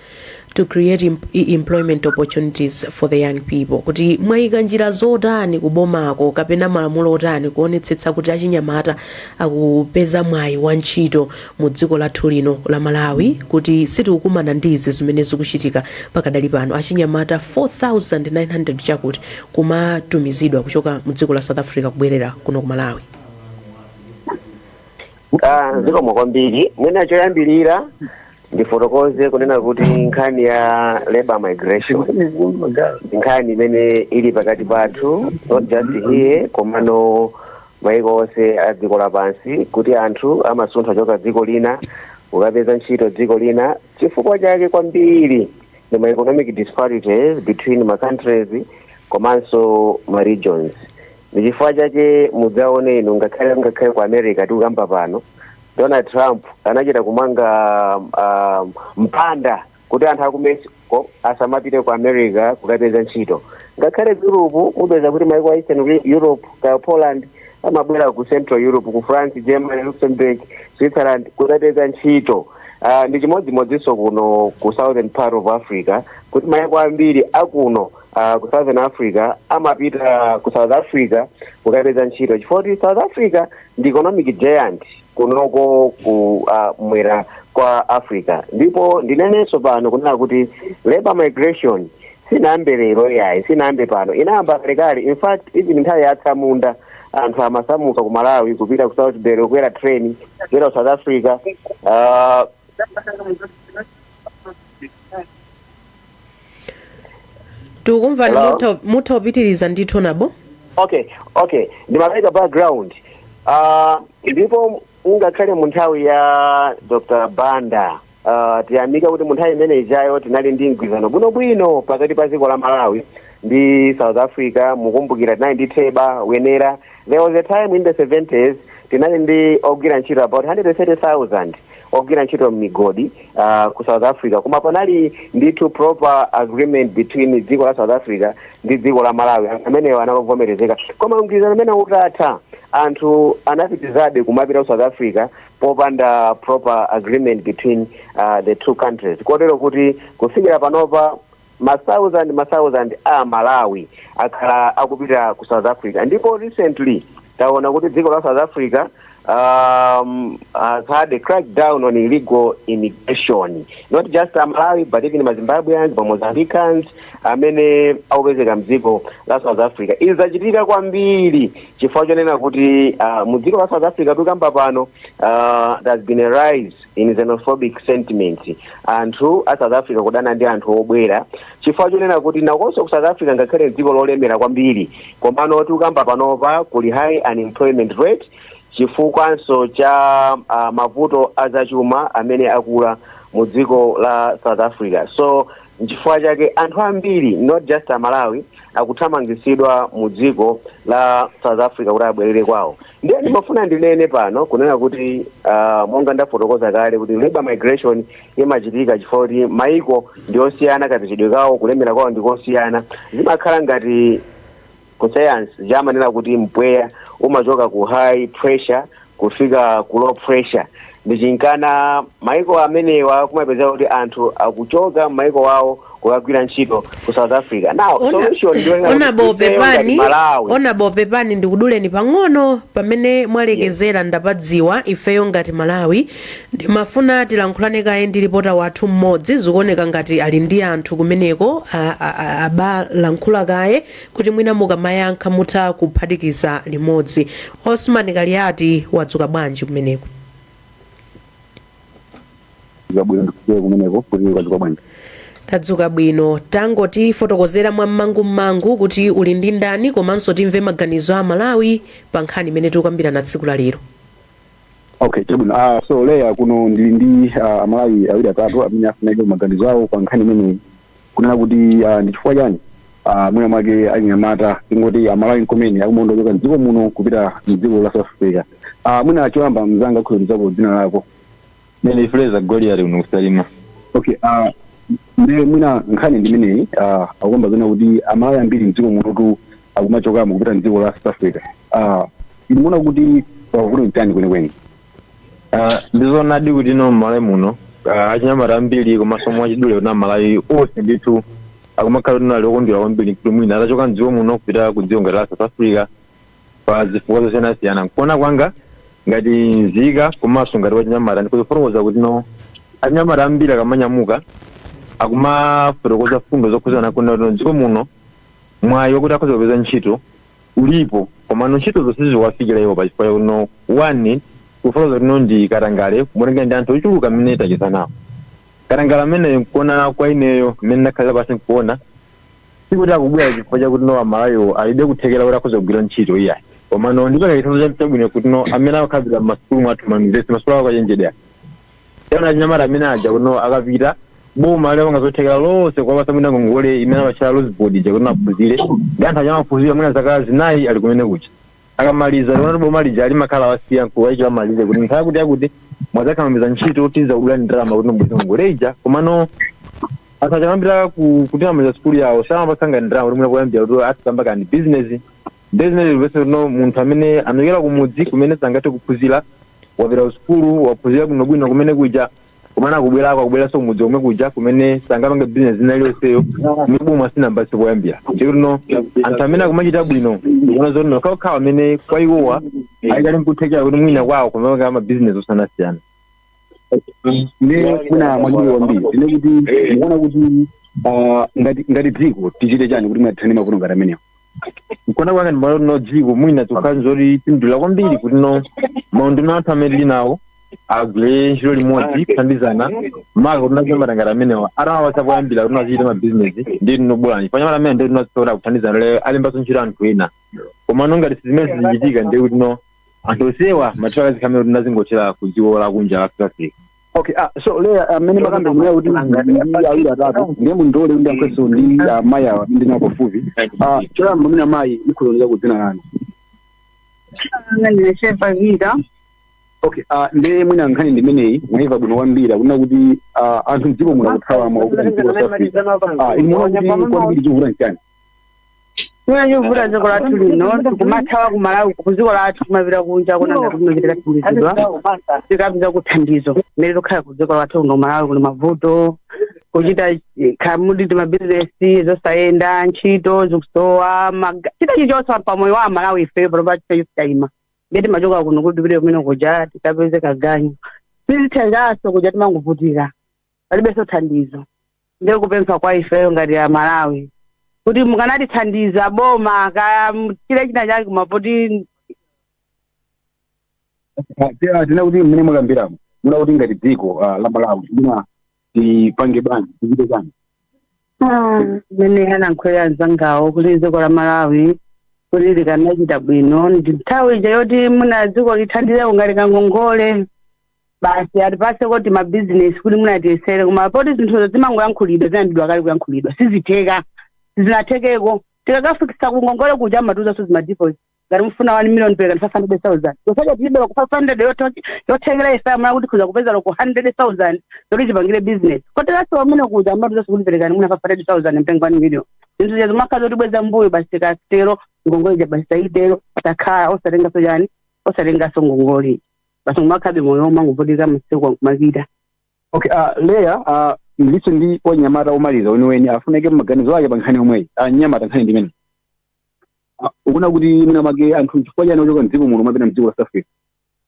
to create em- e- employment opportunities for the young people kuti mwayika njira zotani kubomako kapena malamulo otani kuonetsetsa kuti achinyamata akupeza mwayi wa ntchito mu dziko lathu lino la malawi kuti sitikukumana ndi izi zimene zikuchitika pakadali pano achinyamata 4900 chakuti kumatumizidwa kuchoka mu dziko la south africa kubwerera kuno ku malawi
Ah, zikomo kwambiri mwina choyambirira ndifotokoze kunena kuti nkhani ya labor migration ndi nkhani imene ili pakati pathu not just here komano maiko onse a dziko lapansi kuti anthu amasuntha kuchoka dziko lina kukapeza ntchito dziko lina chifukwa chake kwambiri ndi ma economic disparities between ma countries komanso ma regions ndi chifukwa chake mudzaone inu ngakhale ngakhale ku america tikukamba pano Donald Trump anachita kumanga um, mpanda kuti anthu aku Mexico asamapite ku America kukapeza ntchito ngakhale ku Europe mupeza kuti maiko a Eastern Re- Europe ngati Poland amabwera ku Central Europe ku France Germany Luxembourg Switzerland kukapeza ntchito uh, ndi chimodzimodzinso kuno ku Southern part of Africa kuti maiko ambiri akuno uh, ku southern africa amapita ku south africa kukapeza ntchito chifukwa kuti south africa ndi economic giant kunoko ku uh, mwera kwa africa ndipo ndinenenso pano kunena kuti labor migration sinayambe lero yayi sinayambe pano inayamba kalekale in fact even nthawi ya atsamunda anthu amasamuka ku malawi kupita ku salisbury kukwera train kupita ku south africa uh,
tikumvani Hello? mutha- mutha kupitiriza ndithu honorable okay
okay ndimapereka background uh, ndipo ngakhale mu nthawi ya dr banda uh, tiyamika kuti mu nthawi imene ijayo tinali ndi mgwirizano bwinobwino pakati pa dziko la malawi ndi south africa mukumbukira tinali ndi theba wenera there was a time in the 70s tinali ndi ogwira ntchito about 130000 ogwira ntchito m'migodi uh, ku south africa koma panali ndithu proper agreement between dziko la south africa ndi dziko la malawi Anthu amenewo anali ovomerezeka koma mgwirizano umenewu utatha anthu anapitizabe kumapita ku south africa popanda proper agreement between uh, the two countries kotero kuti kufikira panopa ma thousand ma thousand a malawi akhala akupita ku south africa ndipo recently taona kuti dziko la south africa um, has had a crackdown on illegal immigration not just a malawi but even mazimbabweans mamozambicans amene akupezeka mdziko la south africa izi zachitika kwambiri chifukwa chonena kuti uh, mu dziko la south africa tikamba pano uh, there has been a rise in xenophobic sentiments anthu a south africa kudana ndi anthu obwera chifukwa chonena kuti nakonso ku south africa ngakhale dziko lolemera kwambiri komano tikukamba panopa kuli high unemployment rate chifukwanso cha uh, mavuto azachuma amene akula mu dziko la south africa so nchifukwa chake anthu ambiri not just amalawi akuthamangitsidwa mu dziko la south africa kuti abwerere kwawo ndiye ndimafuna ndinene pano kunena kuti ah, monga ndafotokoza kale kuti labor migration imachitika chifukwa kuti maiko ndi osiyana kapezedwe kawo kulemera kwawo ndi kosiyana zimakhala ngati ku science amanena kuti mpweya umachoka ku high pressure kufika ku low pressure ndi chimenenso maiko amenewa kumapezeka kuti anthu akuchoka m'maiko wawo kukagwira ntchito ku south africa now Ona- solution ndiyo ngati
ifeyo ngati malawi pepani ndikuduleni pang'ono pamene mwalekezera ndapadziwa ifeyo ngati malawi ndimafuna tilankhulane kaye ndi lipota wathu mmodzi zikuoneka ngati ali ndi anthu kumeneko a- a- a- abalankhula kaye kuti mwina mukamayankha mutha kuphatikiza limodzi. Osman Kaliati wadzuka bwanji kumeneko? zabwino ndikusiye kumeneko kuti mwadzuka bwanji tadzuka bwino tangotifotokozera mwa mmangummangu kuti uli ndi ndani komanso timve maganizo a malawi pa nkhani imene tikukambirana tsiku la lero okay
chabwino ah, so eya kuno ndili ndi ah, amalawi awiri atatu amene apereke maganizo awo pa nkhani imeneyi kunena kuti ah, ndi chifukwa chani ah, mwina mwake achinyamata tingoti amalawi nkomwe akumachoka mdziko muno kupita mdziko la south africa Ah, mwina choyamba mzanga ungotiuzapo dzina lako Ndine Fraser
Goliath kuno ku salima. okay
ah, nde mwina nkhani ndimeneyi ah, akuyamba zina kuti amalawi ambiri mdziko munotu akumachokamo kupita mdziko la south africa Ah, mumaona kuti vuto nchani kwenikweni
Ah, ndizonadi kuti no mmalawi muno ah, achinyamata ambiri komanso mwachidule kuti amalawi onse ndithu akumakhala kuti no ali okondwera kwambiri kuti mwina atachoka mdziko muno kupita ku dziko ngati la south africa pa zifukwa zosiyanasiyana nkuona kwanga ngati nzika komanso ngati wachinyamata ndikuzifotokoza kuti no achinyamata ambiri akamanyamuka akumafotokoza fundo zokhudzana kuti no mdziko muno mwayi wakuti akhoza kupeza ntchito ulipo komano ntchitozo siziwafikira iwo pa chifukwa chakuti no one kufotokoza kuti no ndi katangale kumonekera ndi anthu ochuluka amene tacheza nawo katangale ameneyu nkuona kwa ineyo mmene ndakhalira pasi nkuona sikuti akubwera chifukwa chakuti no amalawi alibe kuthekera kuti akhoza kugwira ntchito iyayi komano ndipereka chitsanzo cha- chabwino kuti no amene akukhalira m'masukulu mwathu mayunivesiti masukulu aukachenjede Taona achinyamata amene aja kuno akapita boma limapanga zothekera zonse kuwapatsa mwina ngongole imene amatchera loans board ija kuti maphunzire ndi anthu aja amaphunzira mwina zaka zinayi ali kumene kuja akamaliza timaona kuti boma lija limakhala lawasiya nkuwayikira malire kuti nthawi kuti akuti mukadzapeza ntchito tidzakudulani ndalama kuti mubweze ngongole ija komano anthu aja amapita ku- kuti amaliza sukulu yawo samawapatsanso ndalama kuti mwina kuyambira kuti ayambe kabizinesi ndiye zimene zimapezeka kuti no munthu amene anachokera kumudzi kumene sangathe kuphunzira wapita kusukulu waphunzira bwinobwino kumene kuja kumene akubwerako akubweranso kumudzi komwe kuja kumene sangapange bizinesi zina iliyonseyo imene boma silinampatse poyambira ndiye kuti no anthu amene akumachita bwino ndikuona zoti nokhaokhawo amene kwa iwowa akali nkuthekera kuti mwina kwawo kumapanga mabizinesi
osiyanasiyana nde mwina mwachidule tinene kuti mukuona kuti ah, ngati ngati dziko tichite chani kuti mwina tithane ndi mavuto ngati amenewo nkuona
kwanga ndimati no dziko mwina tikhoza kupindula kwambiri kuti no maunduna athu amene tili nawo agwire ntchito limodzi kuthandizana maka kuti no achinyamata amenewa atawapatsa poyambira kuti no azichita mabizinesi ndi tinobulani panyamata amene ndi tinazitola kuthandizana ndi alembanso ntchito anthu ena koma no ngati zimene zikuchitika ndi kuti no anthu onsewa amathawa akadzikhalira kuti no azingothawira ku dziko lakunja la south africa Okay, ah,
so lero mmene ndimakamba ineyo kuti ndi awiri atatu ndiye mundilole ndiyankhulenso ndi amayi awa ndili nawo pafupi Ah, choyamba mwina mayi mutiuzeko dzina lanu
Anga ndinachepa vita.
okay ah, ndiye mwina nkhani ndimeneyi mwaiva bwino kwambiri yakunena kuti ah, anthu mdziko muno akuthawa makamaka mdziko la South Africa. Ah, inu mukuona kuti kwambiri chikuvuta nchani
Chimene chikuvuta dziko lathu lino tikumathawa ku Malawi ku dziko lathu kumapita kunja kuona ngati kumeneko tikathandizidwa tikapezako thandizo mmene tikhala ku dziko lathu kuno Malawi kuli mavuto kuchita eh, kaya ndi mabizinesi zosayenda ntchito zikusowa maga- chinthu chilichonse pa moyo wa Malawi ife panopa chinthu chinayima ndiye timachoka kuno kuti tipite kumene kuja tikapeze kaganyu sizithekanso kuja timangovutika palibenso thandizo ndiye kupempha kwa ifeyo ngati a malawi kuti mukanatithandiza boma kaya chiri china chake komabe poti
tena tena kuti mmene mwakambiramo muja kuti ngati dziko ah, la malawi lina tipange bwanji tichite
bwanji mmene anayankhulira mzangawo kuti dziko la malawi kuti likanachita bwino ndi nthawi ija yoti mwina dziko lithandizeko ngati kangongole basi atipatseko timabizinesi kuti mwina tiyesere koma poti zinthuzo zimangoyankhulidwa zinayambidwa kale kuyankhulidwa sizitheka zinathekeko tikakafikisa kungongole kuja amatiuzanso za ma deposit ngati mufuna 1 million pereka ndi 500000 tonse aja tilibe loko 500 yoto- yothekera ife mwina kuti tikhoza kupeza loko 100000 yoti tipangire business koteranso pamene kuja amatiuzanso kuti perekani mwina 500000 mutenge 1 million zinthu zija zimakhala zotibweza mbuyo basi tikatero ngongole ija basi tayitero takhala osatenganso chani osatenganso ngongole basi kumakhalabe moyo womangovutika masiku akumapita okay
uh, leya uh, ndilinso ndi anyamata omaliza weniweni apereke maganizo ake pa nkhani yomweyi uh, anyamata nkhani ndi mmene uh, ukuona kuti mwina mwake anthu chifukwa chani akuchoka mdziko muno kumapita mdziko la south africa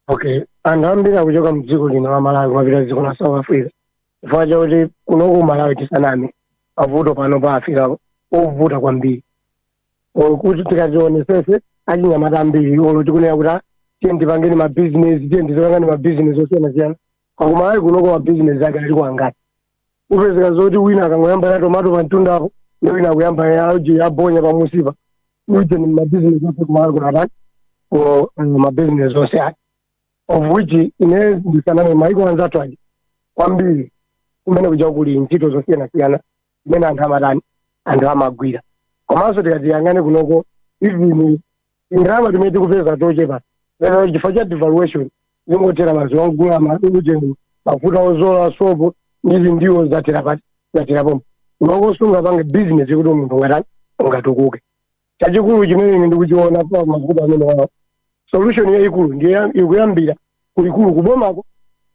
okay anthu ambiri akuchoka mdziko lino la malawi kumapita dziko la south africa chifukwa chakuti kunoku malawi tisaname mavuto panopa afika povuta kwambiri Or kuti tikazionetsetse achinyamata ambiri olo tikunena kuti ah, tiyeni tipange mabizinesi tiyeni tizipanga mabizinesi osiyanasiyana kumalawi kunoko mabizinesi ake aliko angati upezeka zoti wina akangoyamba ya tomato pamtunda apo ndi wina akuyamba ya uje ya bonya pamusipa uje ndi mabizinesi ake kumalawi kunatani ko mabizinesi onse ake of which ine ndisaname maiko anzathu aja kwambiri kumene kuja kuli ntchito zosiyanasiyana imene anthu amatani anthu amagwira komanso tikatiyang'ane kunoko even tindalama timene tikupeza tochepa lero chifukwa cha devaluation zingothera madzi wagula maujeni mafuta odzola sopo ndi zindiwo zathera pati zathera pomwepo kunoko sungapange business kuti munthu ungatani ungatukuke chachikulu chimene ine ndikuchiona pa mavuto amenewawo solution yayikulu ndiye ikuyambira kulikulu kubomako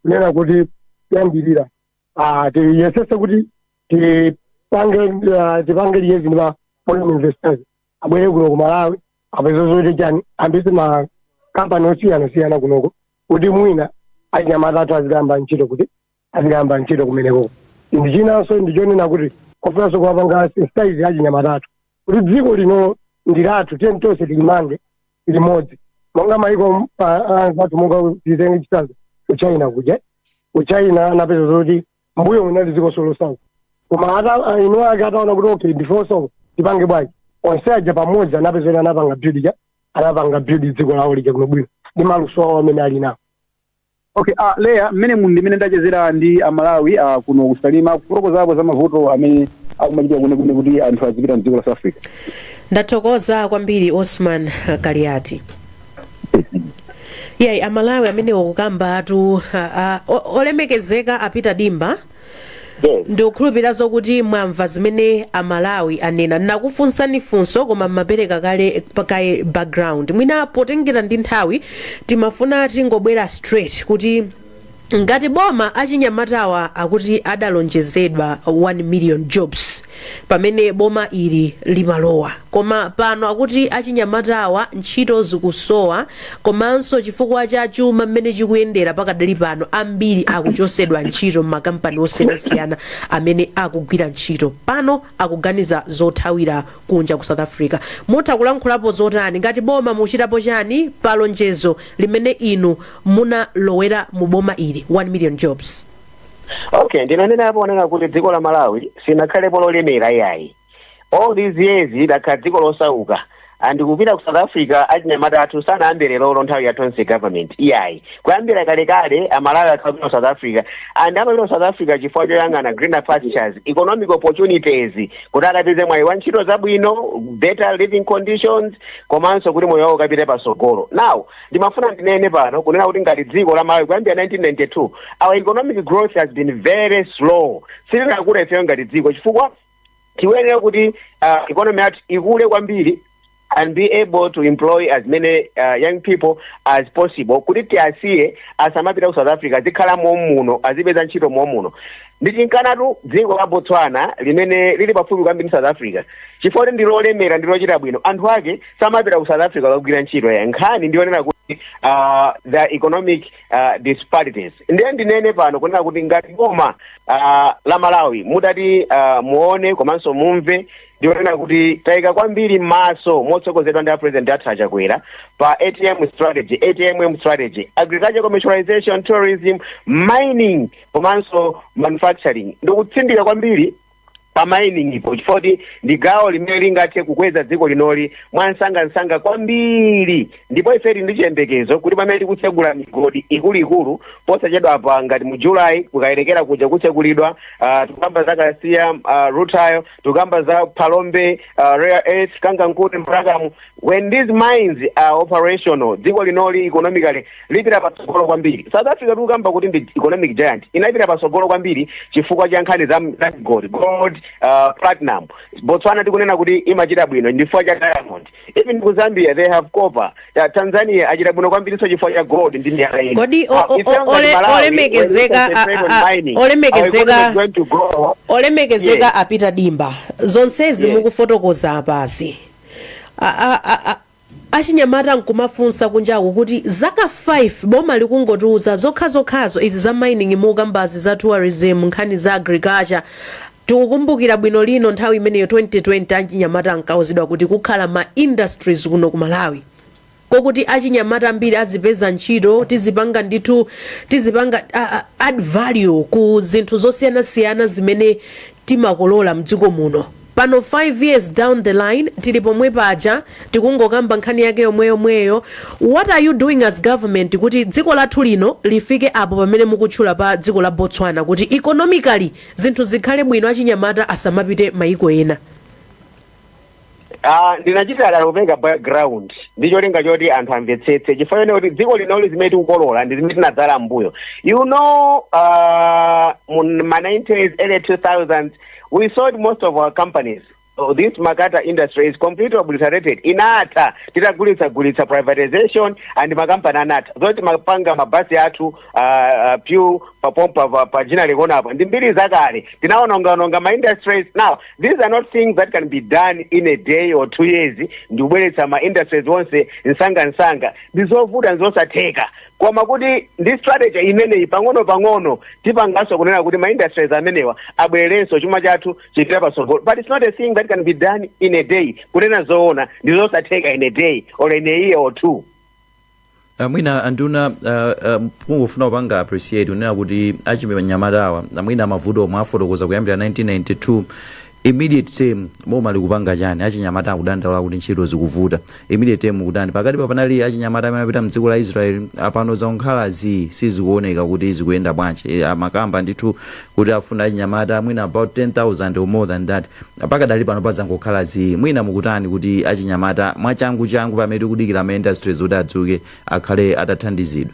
kunena kuti kuyambirira ah, tiyesese kuti tipange ah, tipange liaise ndi ma foreign investors abwere kuno ku malawi apeze zoti chani ayambitse makampani osiyanasiyana kunoko kuti mwina achinyamata athu azikayamba ntchito kuti azikayamba ntchito kumeneko ndi chinanso ndi chonena kuti kofunanso kuwapanga sensitize achinyamata athu kuti dziko lino ndi lathu tiyeni tonse tilimange limodzi monga maiko anzathu monga titenge chitsanzo ku china kuja ku china anapeza zoti mbuyomu linali dziko losauka koma ata ah, eni ake ataona kuti okay ndife osauka tipange bwanji onse aja pamodzi anapeza kuti anapanga build ja anapanga build dziko lawo lija bwinobwino ndi maluso awo amene ali nawo
Okay, uh, Leya mmenemo ndi mmene ndachezera ndi amalawi uh, kuno kusalima kufotokozapo za mavuto amene akumachititsa kwenikweni kuti anthu azipita mdziko la south africa
ndathokoza kwambiri osman kaliati yayi amalawi amenewo akukambatu a- a- o- olemekezeka a peter dimba ndikukhulupirira zokuti mwamva zimene amalawi anena nakufunsani funso koma mumapereka kale kaye background mwina potengera ndi nthawi timafuna tingobwera straight kuti ngati boma achinyamatawa akuti adalonjezedwa 1 million jobs pamene boma ili limalowa koma pano akuti achinyamatawa ntchito zikusowa komanso chifukwa cha chuma mmene chikuyendera pakadali pano ambiri akuchosedwa ntchito m'makampani osiyanasiyana amene akugwira ntchito pano akuganiza zothawira kunja ku south africa mutha kulankhulapo zotani ngati boma muchitapo chani pa lonjezo limene inu munalowera mu boma ili 1 million jobs
okay ndinanena apo onena kuti dziko la malawi sinakhalepo lolemera iyayi all these years idakhala dziko losauka and kupita ku south africa achinyamata athu sanayambire lero nthawi ya tonse government iyayi kuyambira kalekale amalawi akhala akupita ku south africa and amapita ku south africa chifukwa choyang'ana greener pastures economic opportunities kuti akapeze mwayi wa ntchito zabwino better living conditions komanso kuti moyo wawo ukapite pasogolo now ndimafuna ndinene pano kunena kuti ngati dziko la malawi kuyambira 1992 our economic growth has been very slow sitinakula ifeyo ngati dziko chifukwa tiyenera kuti uh, economy yathu ikule kwambiri and be able to employ as many uh, young people as possible kuti tiasiye asamapita ku south africa azikhala momuno azipeza ntchito momuno ndichifukwa chaketu dziko la botswana limene lili pafupi kwambiri ndi south africa chifukwa choti ndilolemera ndilochita bwino anthu ake samapita ku south africa kukagwira ntchito iyayi nkhani ndiyonena kuti uh, the economic uh, disparities ndiye ndinene pano kunena kuti ngati boma uh, la malawi mutati uh, muone komanso mumve ndiyonena kuti tayika kwambiri maso motsogozedwa ndi a president dr lazarus chakwera pa atm strategy atmm strategy agriculture commercialization tourism mining komanso manufacturing ndikutsindika kwambiri pa mining po chifukwa choti ndi gawo limene lingathe kukweza dziko linoli mwamsangamsanga kwambiri ndipo ife tili ndi chiyembekezo kuti pamene tikutsegula migodi ikuluikulu posachedwapa ngati mu julayi ku kayelekera kuja kutsegulidwa uh, tikukamba za kasiya uh, rutile tikukamba za phalombe uh, rare earth kangankunde mbrakamu when these mines are operational dziko linoli economically lipita patsogolo kwambiri south africa tikukamba kuti ndi economic giant inapita patsogolo kwambiri chifukwa cha nkhani za za gold gold uh, platinum botswana tikunena kuti imachita bwino ndi chifukwa cha diamond even ku zambia they have copper Ta- tanzania achita bwino kwambirinso chifukwa cha gold ndi miyala ina kodi o- Ah, o- it sounds o- like
ole- Malawi, olemekezeka when we concentrate a- on a- a- mining, our olemekezeka- economy is going to grow. olemekezeka Yes. a peter dimba zonsezi Yes. mukufotokoza apazi a, a, a, a, achinyamata akumafunsa kunjaku kuti zaka 5 boma likungotiuza zokhazokhazo izi za mining mukukambazi za tourism nkhani za agriculture tikukumbukira bwino lino nthawi imeneyo 2020 achinyamata ankauzidwa kuti kukhala ma industries kuno ku malawi kokuti achinyamata ambiri azipeza ntchito tizipanga ndithu tizipanga uh, add value ku zinthu zosiyanasiyana zimene timakolola mdziko muno pano 5 years down the line tili pomwe paja tikungokamba nkhani yake yomweyomweyo what are you doing as government kuti dziko lathu lino lifike apo pamene mukutchula pa dziko la botswana kuti economically zinthu zikhale bwino achinyamata asamapite mayiko ena
Ah, ndinachita dala kupereka background ndi cholinga choti anthu amvetsetse chifukwa chonena kuti dziko linoli zimene tikukolola ndi zimene tinadzala mbuyo you know uh, mu ma 90s early 2000s we sold most of our companies So this Makata industry is completely obliterated inatha titagulitsagulitsa privatization and makampani anatha zoti timapanga mabasi athu ah, ah, PEW papompa pa- pa Ginnery Corner apa ndi mbiri zakale tinaonongaononga ma industries now these are not things that can be done in a day or two years ndi kubweretsa ma industries onse msangamsanga ndi zovuta ndi zosatheka koma kuti ndi strategy imeneyi pang'ono pang'ono tipanganso kunena kuti ma industries amenewa abwererenso chuma chathu chipita patsogolo but it's not a thing that can be done in a day kunena zoona ndi zosatheka in a day or in a year or two Uh,
mwina anduna uh, uh, kungofuna kupanga appreciate kunena kuti achinyamata awa mwina mavuto omwe afotokoza kuyambira 1992 immediate term boma likupanga chani achinyamata akudandaula kuti ntchito zikuvuta immediate term kutani pakati pa panali achinyamata amene apita mdziko la israel apano zangokhala zii sizikuoneka kuti zikuyenda bwanji Eh, amakamba ndithu kuti afuna achinyamata mwina about 10000 or more than that Pakadali pano pazangokhala zii. Mwina mukutani kuti achinyamata mwachangu changu pamene tikudikira ma industries oti adzuke akhale atathandizidwa?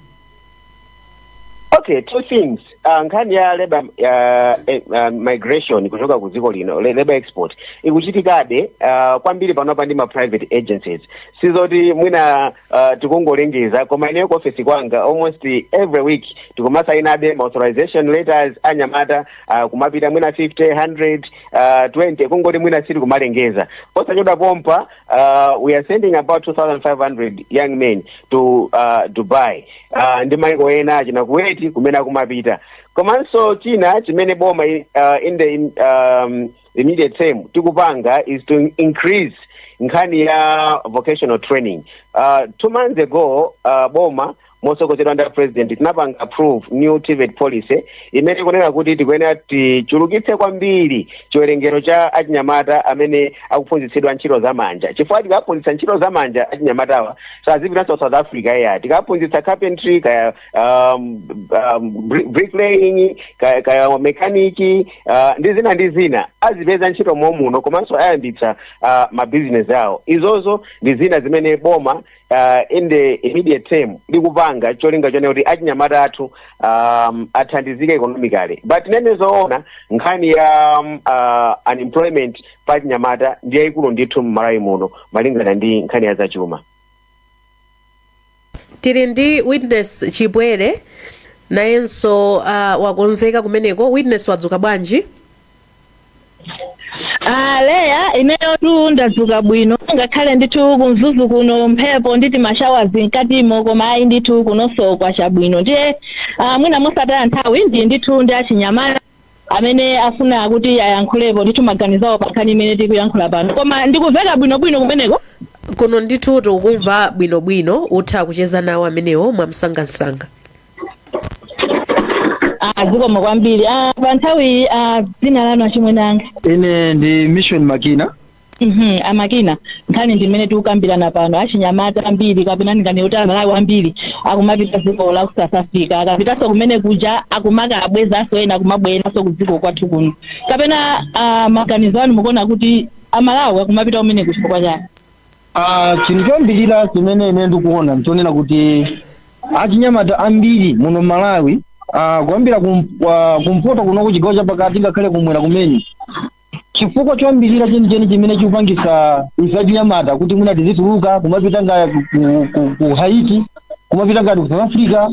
Ok,
two things. Uh, nkhani ya labor uh, eh, uh, migration kuchoka ku dziko lino le- labor export ikuchitikabe uh, kwambiri panopa ndi ma private agencies sizoti mwina uh, tikungolengeza koma ineyo ku office kwanga almost every week tikumasainabe ma authorization letters anyamata uh, kumapita mwina 50 100 uh, 20 kungoti mwina sitikumalengeza posachedwa pompa uh, we are sending about 2500 young men to uh, dubai uh, ndi maiko ena achina Kuwait kumene akumapita komanso china chimene boma uh, in the um, immediate term tikupanga is to increase nkhani ya vocational training uh, two months ago uh, boma motsogozedwa ndi a president tinapanga approve new TEVET policy imene ikunena kuti tikuyenera tichulukitse kwambiri chiwerengero cha achinyamata amene akuphunzitsidwa ntchito za manja chifukwa tikaphunzitsa ntchito za manja achinyamatawa sazipitanso south africa iyayi tikaphunzitsa carpentry kaya um, um, bri- bricklaying kaya, kaya mechanic uh, ndi zina ndi zina azipeza ntchito mommuno komanso ayambitsa uh, mabizinesi awo izozo ndi zina zimene boma uh, in the immediate term likupanga cholinga chonena kuti achinyamata athu um, athandizike economically but ndinene zoona nkhani ya um, uh, unemployment pa achinyamata ndi yayikulu ndithu mmalawi muno malingana ndi nkhani ya
zachuma tili ndi witness chipwere nayenso uh, wakonzeka kumeneko witness wadzuka bwanji
Ah, leya ineyotu ndadzuka bwino ngakhale ndithu kumzuzu kuno mphepo ndi timashawazi mkatimo koma ayi ndithu kunonso kwacha bwino ndiye ah, mwina mosataya nthawi ndili ndithu ndi achinyamata amene afuna kuti ayankhulepo ndithu maganizo awo pankhani imene tikuyankhula pano koma ndikumveka bwinobwino kumeneko kuno ndithu
tikukumva bwinobwino utha kucheza nawo amenewo mwamsangamsanga
Ah, zikomo kwambiri ah, pa nthawiyi ah, dzina lanu achimwene anga ine ndi
mission makina Mhm, a
makina nkhani ndi imene tikukambirana pano achinyamata ambiri kapena ndinganene kuti amalawi ambiri akumapita dziko la ku south africa akapitanso kumene kuja akumakawabwezanso ena akumabweranso ku dziko kwathu kuno kapena ah, maganizo anu mukuona kuti amalawi akumapita kumeneku chifukwa chani Ah,
chinthu choyambirira chimene ine ndikuona nchonena kuti achinyamata ambiri muno Malawi ah, kuyambira kum, ah, kumpoto kunoko chigawo chapakati ngakhale kumwera kumene chifukwa choyambirira chenicheni chimene chikupangitsa ife achinyamata kuti mwina tizituluka kumapita ngati ku, ku, ku Haiti kumapita ngati ku South Africa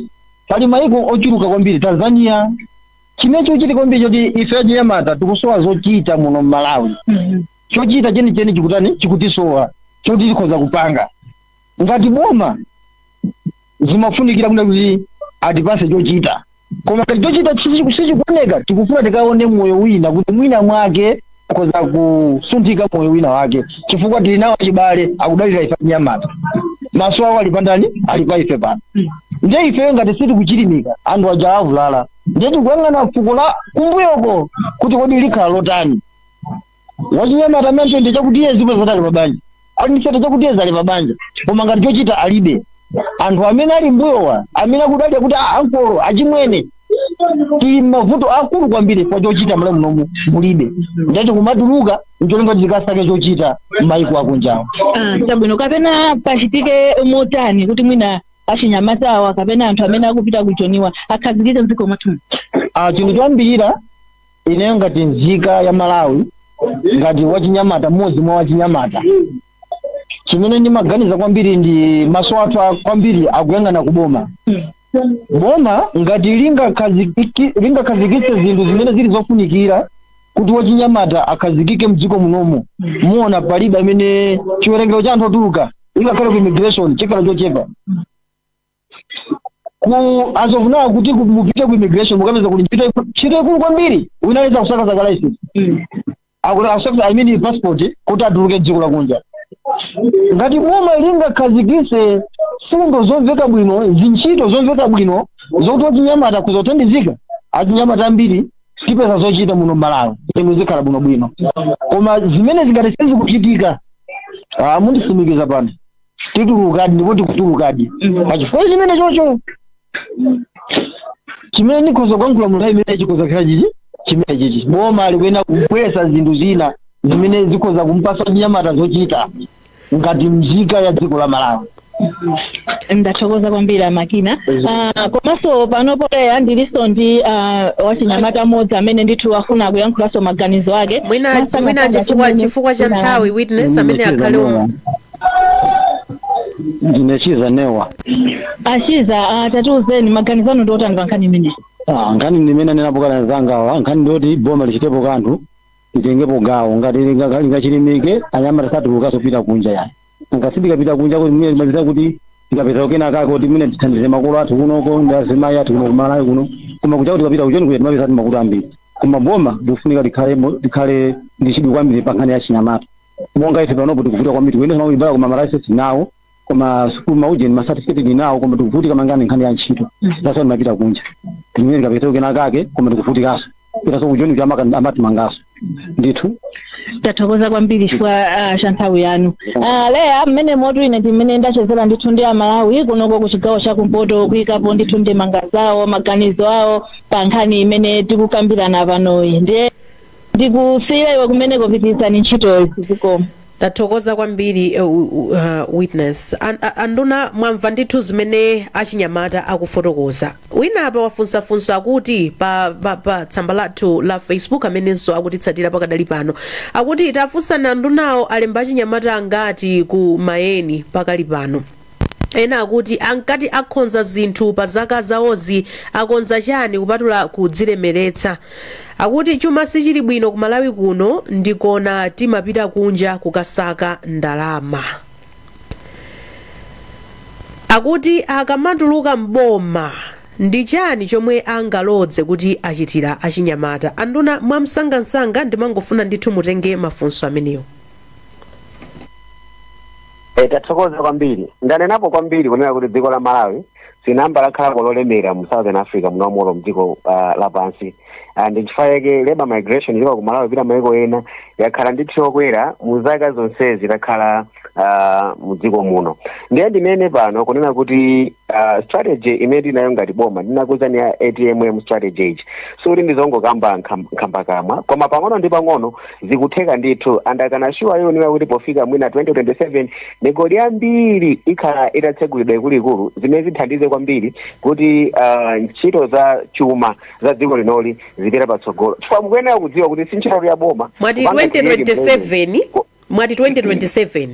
pali maiko ochuluka kwambiri Tanzania chimene chikuchitika kwambiri choti ife achinyamata tikusowa zochita muno Malawi chochita chenicheni chikutani chikutisowa choti tikhoza kupanga ngati boma zimafunikira kunena kuti atipatse chochita koma ngati chochita sichi- sichikuoneka tikufuna tikaone moyo wina kuti mwina mwake tikhoza kusunthika moyo wina wake chifukwa tili nawo achibale akudalira ife achinyamata maso awo ali pandani ali pa ife pano ndiye ifeyo ngati sitikuchilimika anthu aja avulala ndiye tikuyang'ana fuko la kumbuyoko kuti kodi likhala lotani wachinyamata amene ndi chakuti iye zipo zoti ali pabanja ali ndifete chakuti iye ali pabanja koma ngati chochita alibe anthu amene ali mbuyowa amene akudalira kuti "Ah, ankolo achimwene tili mavuto akulu kwambiri kwa chochita mmalawi munomu mulibe ndithu kumatuluka ncholinga kuti tikasake chochita m'mayiko akunjawo Ah, chabwino
kapena pachitike motani kuti mwina achinyamata awa kapena anthu amene akupita kujoniwa akhazikike mdziko mwathu Ah, chinthu
choyambirira ineyo ngati nzika ya malawi ngati wachinyamata mmodzi mwa wachinyamata chimene ndimaganiza kwambiri ndi maso athu a- kwambiri akuyang'ana kuboma boma ngati lingakhazikiki- lingakhazikitse zinthu zimene zili zofunikira kuti wachinyamata akhazikike mdziko munomu muona palibe amene chiwerengero cha anthu otuluka ingakhale ku immigration chikhala chochepa ku as of now kuti ku- mupite ku immigration mukapeza kuti ntchito iku- ntchito ikulu kwambiri wina aliyense akusakasaka license akuti asakasa i mean passport kuti atuluke dziko lakunja ngati boma lingakhazikise mfundo zomveka bwino zintchito zomveka bwino zokuti wachinyamata akhoza kuthandizika achinyamata ambiri tipeza zochita muno mmalawi zinthu zikhala bwinobwino koma zimenezi ngati sizikuchitika ah, ndikutsimikiza pano titulukadi ndipo tikutulukadi pachifukwa chimenecho chimene ndikhoza kuyankhula munthawi imene chikhoza kukhala chichi chimene chichi boma likuyenera kubweretsa zinthu zina zimene zikhoza kumpasa wachinyamata zochita ngati mzika ya dziko la
malawi ndathokoza kwambiri a makina Ah, komanso panopo leya ndilinso ndi ah, wachinyamata mmodzi amene ndithu afuna kuyankhulanso maganizo ake mwina Makamaka mwina chifukwa
chimene chifukwa cha nthawi witness amene akhale
ndine chiza newa a
chiza ah, tatiuzeni maganizo anu ndi otani pa nkhani imeneyi Ah, nkhani ndimene
anenapo kale nzangawa nkhani ndiyoti boma lichitepo kanthu litengepo gawo ngati linga- lingachilimike anyamata satulukaso kupita kunja yayi nanga si tikapita kunja kuti mwina timapita kuti tikapeze kena kake kuti mwina tithandize makolo athu kunoko ndi azimayi athu kuno kumalawi kuno koma kuja tikapita kujoni kuja timapeza ati mavuto ambiri koma boma likufunika likhale mo- likhale ndi chidwi kwambiri pa nkhani ya achinyamata monga ife panopo tikuvutika kwambiri kuyendetsa ma galimoto koma malaisesi tinawo koma sukulu maujeni masatifiketi tinawo koma tikuvutika mangani nkhani ya ntchito sasa timapita kunja kuti mwina tikapezeko kena kake koma tikuvutikanso tikapitaso kujoni kuti amaka- amatimangaso ndithu
tathokoza kwambiri chifukwa ah, cha nthawi yanu Ah, leya mmenemo tu ine ndimene ndachezera ndithu ndi amalawi kunoko ku chigawo cha kumpoto kuyikapo ndithu ndemanga zawo maganizo awo pa nkhani imene tikukambirana panoyi ndiye ndikusiyira iwe kumeneko pitirizani ntchitoyi zikomo tathokoza
kwambiri uh, uh, uh, witness An- a- anduna mwamva ndithu zimene achinyamata akufotokoza wina apa wafunsafunsa akuti pa, pa, pa tsamba lathu la facebook amenenso akutitsatira pakadali pano akuti tafunsani andunawo alemba achinyamata angati ku mayeni pakali pano Ena akuti ankati akhonza zinthu pa zaka zawozi akonza chani kupatula kudzilemeletsa. Akuti chuma sichili bwino ku Malawi kuno ndikona timapita kunja kukasaka ndalama. Akuti akamatuluka m'boma ndi chani chomwe angalodze kuti achitila achinyamata. Anduna mwamsangamsanga ndimangofuna ndithu mutenge mafunso amenewo.
E, tathokoza kwambiri ndanenapo kwambiri kunena kuti dziko la malawi sinamba lakhalako lolemera mu southern africa munomo olo mdziko uh, lapansi uh, ndi nchifukwa chake labor migration ilikuwa ku malawi pita maiko ena yakhala ndithu yokwera mu zaka zonsezi takhala uh, mu dziko muno ndiye ndinene pano kunena kuti uh, strategy imene tinayo ngati boma ndinakuuzani ya atmm strategy sikuti ndizongokamba nkham- nkhambakamwa koma pang'ono ndi pang'ono zikutheka ndithu and I can assure you kunena kuti pofika mwina 2027 migodi yambiri ikhala itatsegulidwa ikuluikulu zimene zithandize kwambiri kuti uh, ntchito za chuma za dziko linoli zipita patsogolo chifukwa mukuyenera kudziwa kuti si ntchito ya boma mwati kupanga
create 2027 mwati 2027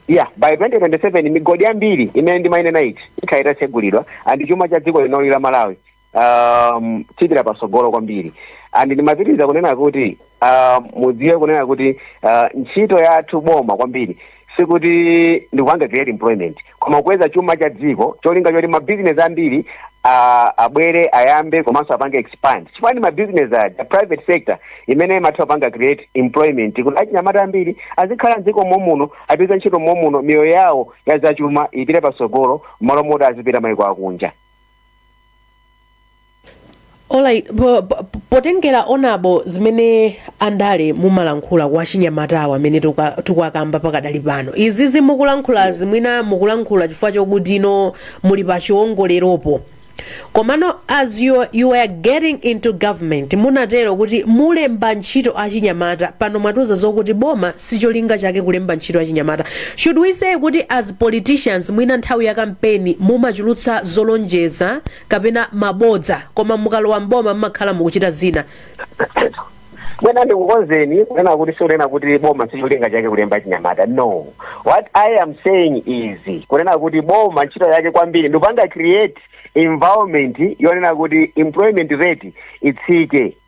ya by 2027 migodi yambiri imene ndimayinena ichi ikhala itatsegulidwa and chuma cha dziko linoli la malawi um, chipita patsogolo kwambiri and ndimapitiriza kunena kuti uh, mudziwe kunena kuti uh, ntchito yathu boma kwambiri sikuti ndikupanga create employment koma kukweza chuma cha dziko cholinga choti mabizinesi ambiri ah, abwere ayambe komanso apange expand chifukwa ndi mabizinesi aja private sector imene imatha kupanga create employment kuti achinyamata ambiri azikhala mdziko momuno apeza ntchito momuno miyoyo yawo ya zachuma ipite patsogolo mmalo moti azipita maiko akunja
Alright, po- po- potengera honourable zimene andale mumalankhula kwa achinyamatawo amene tukwa- tukwakamba pakadali pano izizi mukulankhulazi mwina mukulankhula chifukwa chokuti inu muli pa chiwongoleropo komano as you, you were getting into government munatero kuti mulemba ntchito achinyamata pano mwatiuza zokuti boma sicholinga chake kulemba ntchito achinyamata should we say kuti as politicians mwina nthawi ya kampeni mumachulutsa zolonjeza kapena mabodza koma mukalowa mboma mmakhala mukuchita
zina mwina ndikukonzeni kunena kuti sikunena kuti boma sicholinga chake kulemba achinyamata no what i am saying is kunena kuti boma ntchito yake kwambiri ndikupanga create environment yonena kuti employment rate itsike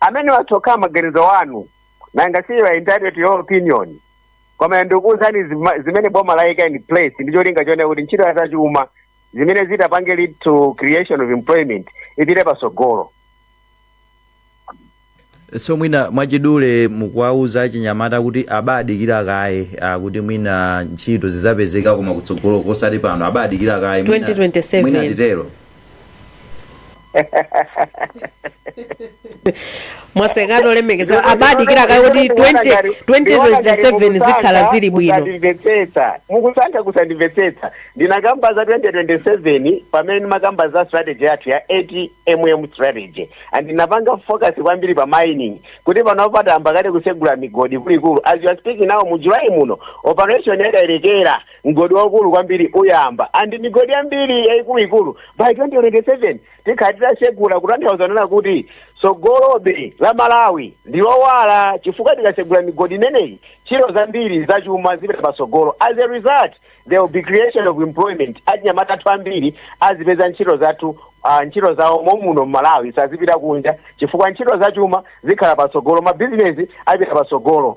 amenewo atha kukhala maganizo wanu nanga si you are entitled to your opinion koma ndikuwuzani zima- zimene boma laika in place ndi cholinga chonena kuti ntchito ya zachuma imene itapange lead to creation of employment ipite
pasogolo so mwina mwachidule mukuwauza achinyamata kuti abadikira kaye ah, kuti mwina ntchito zizapezeka koma kutsogolo kosati pano
abadikira
kaye mwina- 2027. mwina nditero
mwasekatu olemekezeka abadikira kaye kuti 20 2027 zikhala zili bwino ndimvetsetsa mukusankha
kusandimvetsetsa ndinakamba za 2027 pamene ndimakamba za strategy yathu ya ATMM strategy and ndinapanga focus kwambiri pa mining kuti panopa tayamba kale kusegula migodi ikuluikulu as we are speaking now mu July muno operation ya Kayelekera Mgodi waukulu kwambiri uyamba and migodi yambiri yaikuluikulu by 2027 tikhala titatsegula kutanthauza kunena kuti tsogolo la Malawi ndi lowala chifukwa tikatsegula migodi imeneyi ntchito zambiri zachuma zipita patsogolo as a result there will be creation of employment achinyamata athu ambiri azipeza ntchito zathu ah, ntchito zawo momuno m'Malawi sazipita kunja chifukwa ntchito zachuma zikhala patsogolo mabizinesi apita patsogolo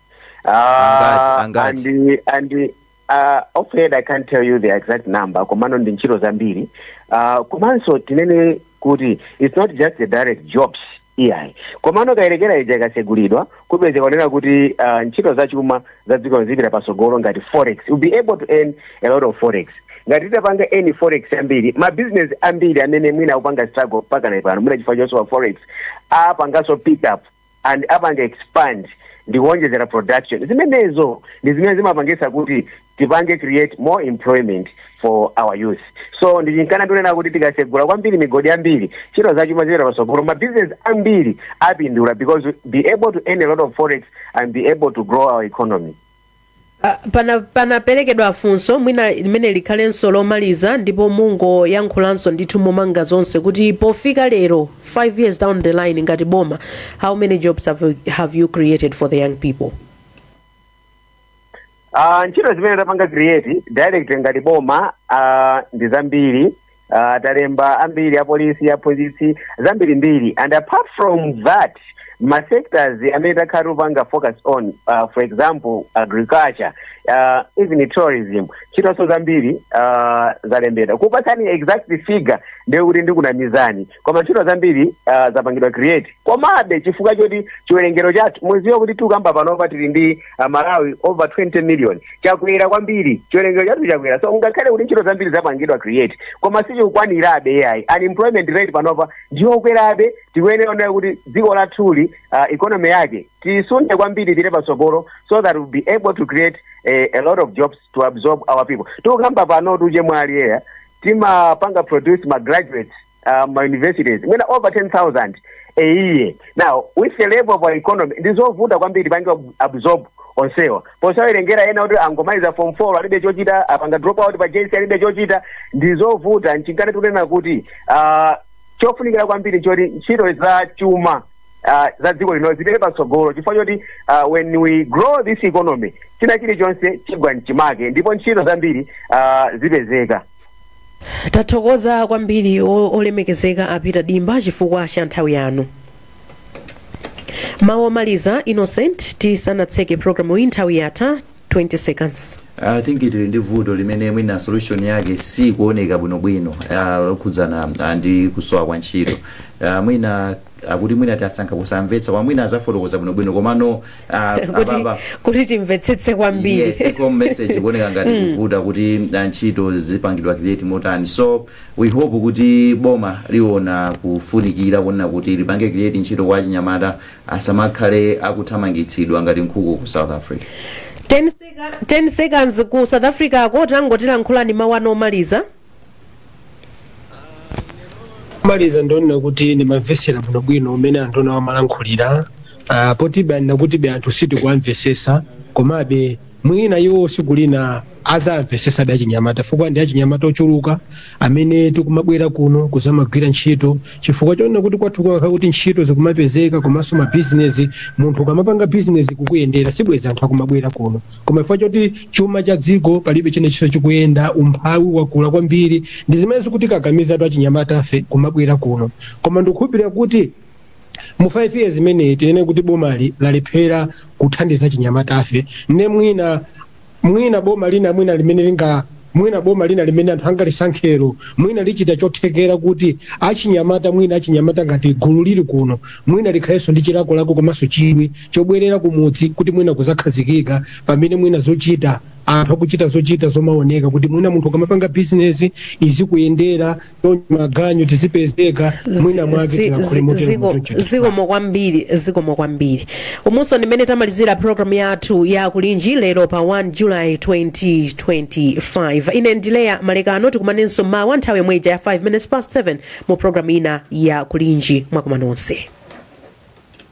Angati,
Ah, angati? and
and uh, offhead i can't tell you the exact number komano ndi ntchito zambiri uh, komanso tinene kuti it's not just the direct jobs iyayi komano Kayelekera ija ikatsegulidwa kupezeka kunena kuti uh, ntchito zachuma za dzikoli zipita patsogolo ngati forex we'll be able to earn a lot of forex ngati titapanga earn forex yambiri mabizinesi ambiri amene mwina akupanga struggle mpaka na pano mwina chifukwa chosowa forex apanganso pick up and apanga expand ndi kuonjezera production zimenezo ndi zimene zimapangitsa kuti tipange create more employment for our youth so ndi chifukwa ndikunena kuti tikasegula kwambiri migodi yambiri ntchito zachuma zipita patsogolo mabusiness ambiri apindula because we'll be able to earn a lot of forex and be able to grow our economy Ah, pana- panaperekedwa
funso mwina limene likhalenso lomaliza ndipo mungoyankhulanso ndithu momanga zonse kuti pofika lero 5 years down the line ngati boma how many jobs have you, have you created for the young people
Ah, ntchito zimene tapanga create direct ngati boma ah, ndi zambiri uh, talemba ambiri apolisi aphunzitsi zambirimbiri and apart from that ma sectors amene takhala tikupanga focus on uh, for example agriculture uh, even tourism ntchitonso zambiri uh, zalembedwa kupatsani exact figure ndiye kuti ndikunamizani koma ntchito zambiri uh, zapangidwa create komabe chifukwa choti chiwerengero chathu muziwa kuti tikukamba panopa tili ndi uh, amalawi over 20 million chakwera kwambiri chiwerengero chathu chakwera so ngakhale kuti ntchito zambiri zapangidwa create koma sizikukwanirabe ayi unemployment rate panopa ndiyokwerabe tikuyenera kuona kuti dziko lathuli uh, economy yake tisunde kwambiri tipite patsogolo so that we'll be able to create a, a lot of jobs to absorb our people tikukamba pano tuje mwina eya timapanga produce ma graduates uh, mma universities mwina over 10000 a year now with the level of our economy ndizovuta kwambiri tipange absorb onsewa posawerengera ena oti angomaliza form 4 alibe chochita apanga drop out pa jc alibe chochita ndizovuta nchifukwa tikunena kuti uh, chofunikira kwambiri nchoti ntchito za chuma uh, za dziko lino zipite patsogolo chifukwa choti uh, when we grow this economy china chilichonse chigwa mchimake ndipo ntchito zambiri uh, zipezeka
tathokoza kwambiri o- olemekezeka a peter dimba chifukwa cha nthawi yanu mawu omaliza innocent tisanatseke programu iyi nthawi yatha 20 seconds i think tili ndi
vuto limene mwina solution yake sikuoneka bwinobwino ah, lokhudzana ah, ndi kusowa kwa ntchito Ah, mwina akuti mwina tasankha kusamvetsa koma mwina azafotokoza bwinobwino komano ah, kuti,
ababa kuti timvetsetse yes, kwambiri take home message
ikuoneka ngati ikuvuta kuti uh, ntchito zipangidwa create motani so we hope kuti boma liona kufunikira konena kuti lipange create ntchito kwa achinyamata asamakhale akuthamangitsidwa ngati nkhuku ku south africa
10 seconds ku south africako tangotilankhulani mawu anu omaliza
maliza ndonena kuti ndimamvetsera bwinobwino mmene a honourable amalankhulira ah, potibe anena kuti be anthu sitikuwamvesesa komabe mwina iwo tsiku lina azamvesesa be achinyamata chifukwa ndi achinyamata ochuluka amene tikumabwera kuno kuzamagwira ntchito chifukwa chonena kuti kwathu kukanakhala kuti ntchito zikumapezeka komanso mabizinesi munthu ukamapanga bizinesi ikukuyendera sibwezi anthu akumabwera kuno koma chifukwa choti chuma cha dziko palibe chimenenso chikuyenda umphawi wakula kwambiri ndi zimene zikutikakamizatu achinyamatafe kumabwera kuno koma ndikukhulupirira kuti mu 5 years imeneyi tinene kuti bomali lalephera kuthandiza achinyamatafe ne mwina mwina boma lina mwina limene linga Mwina boma lina limene anthu angalisankhelo mwina lichita chothekera kuti achinyamata mwina achinyamata ngati gulu lili kuno mwina likhalenso ndi chilakolako komanso chidwi chobwerera kumudzi kuti mwina kuzakhazikika pamene mwina zochita anthu akuchita zochita zomaoneka kuti mwina munthu ukamapanga bizinezi izikuyendera maganyu tizipezeka mwina mwake
Zi- tilakhule zi- motero ziko- muchoncho zikomo kwambiri zikomo kwambiri umu ndi mmene tamalizira programu yathu ya kulinji lero pa 1 july 2025 ine ndi Leya Malekano tikumanenso mawa nthawi yomwe ija ya 5 minutes past 7 mu programu ina ya kulinji mwakoma nonse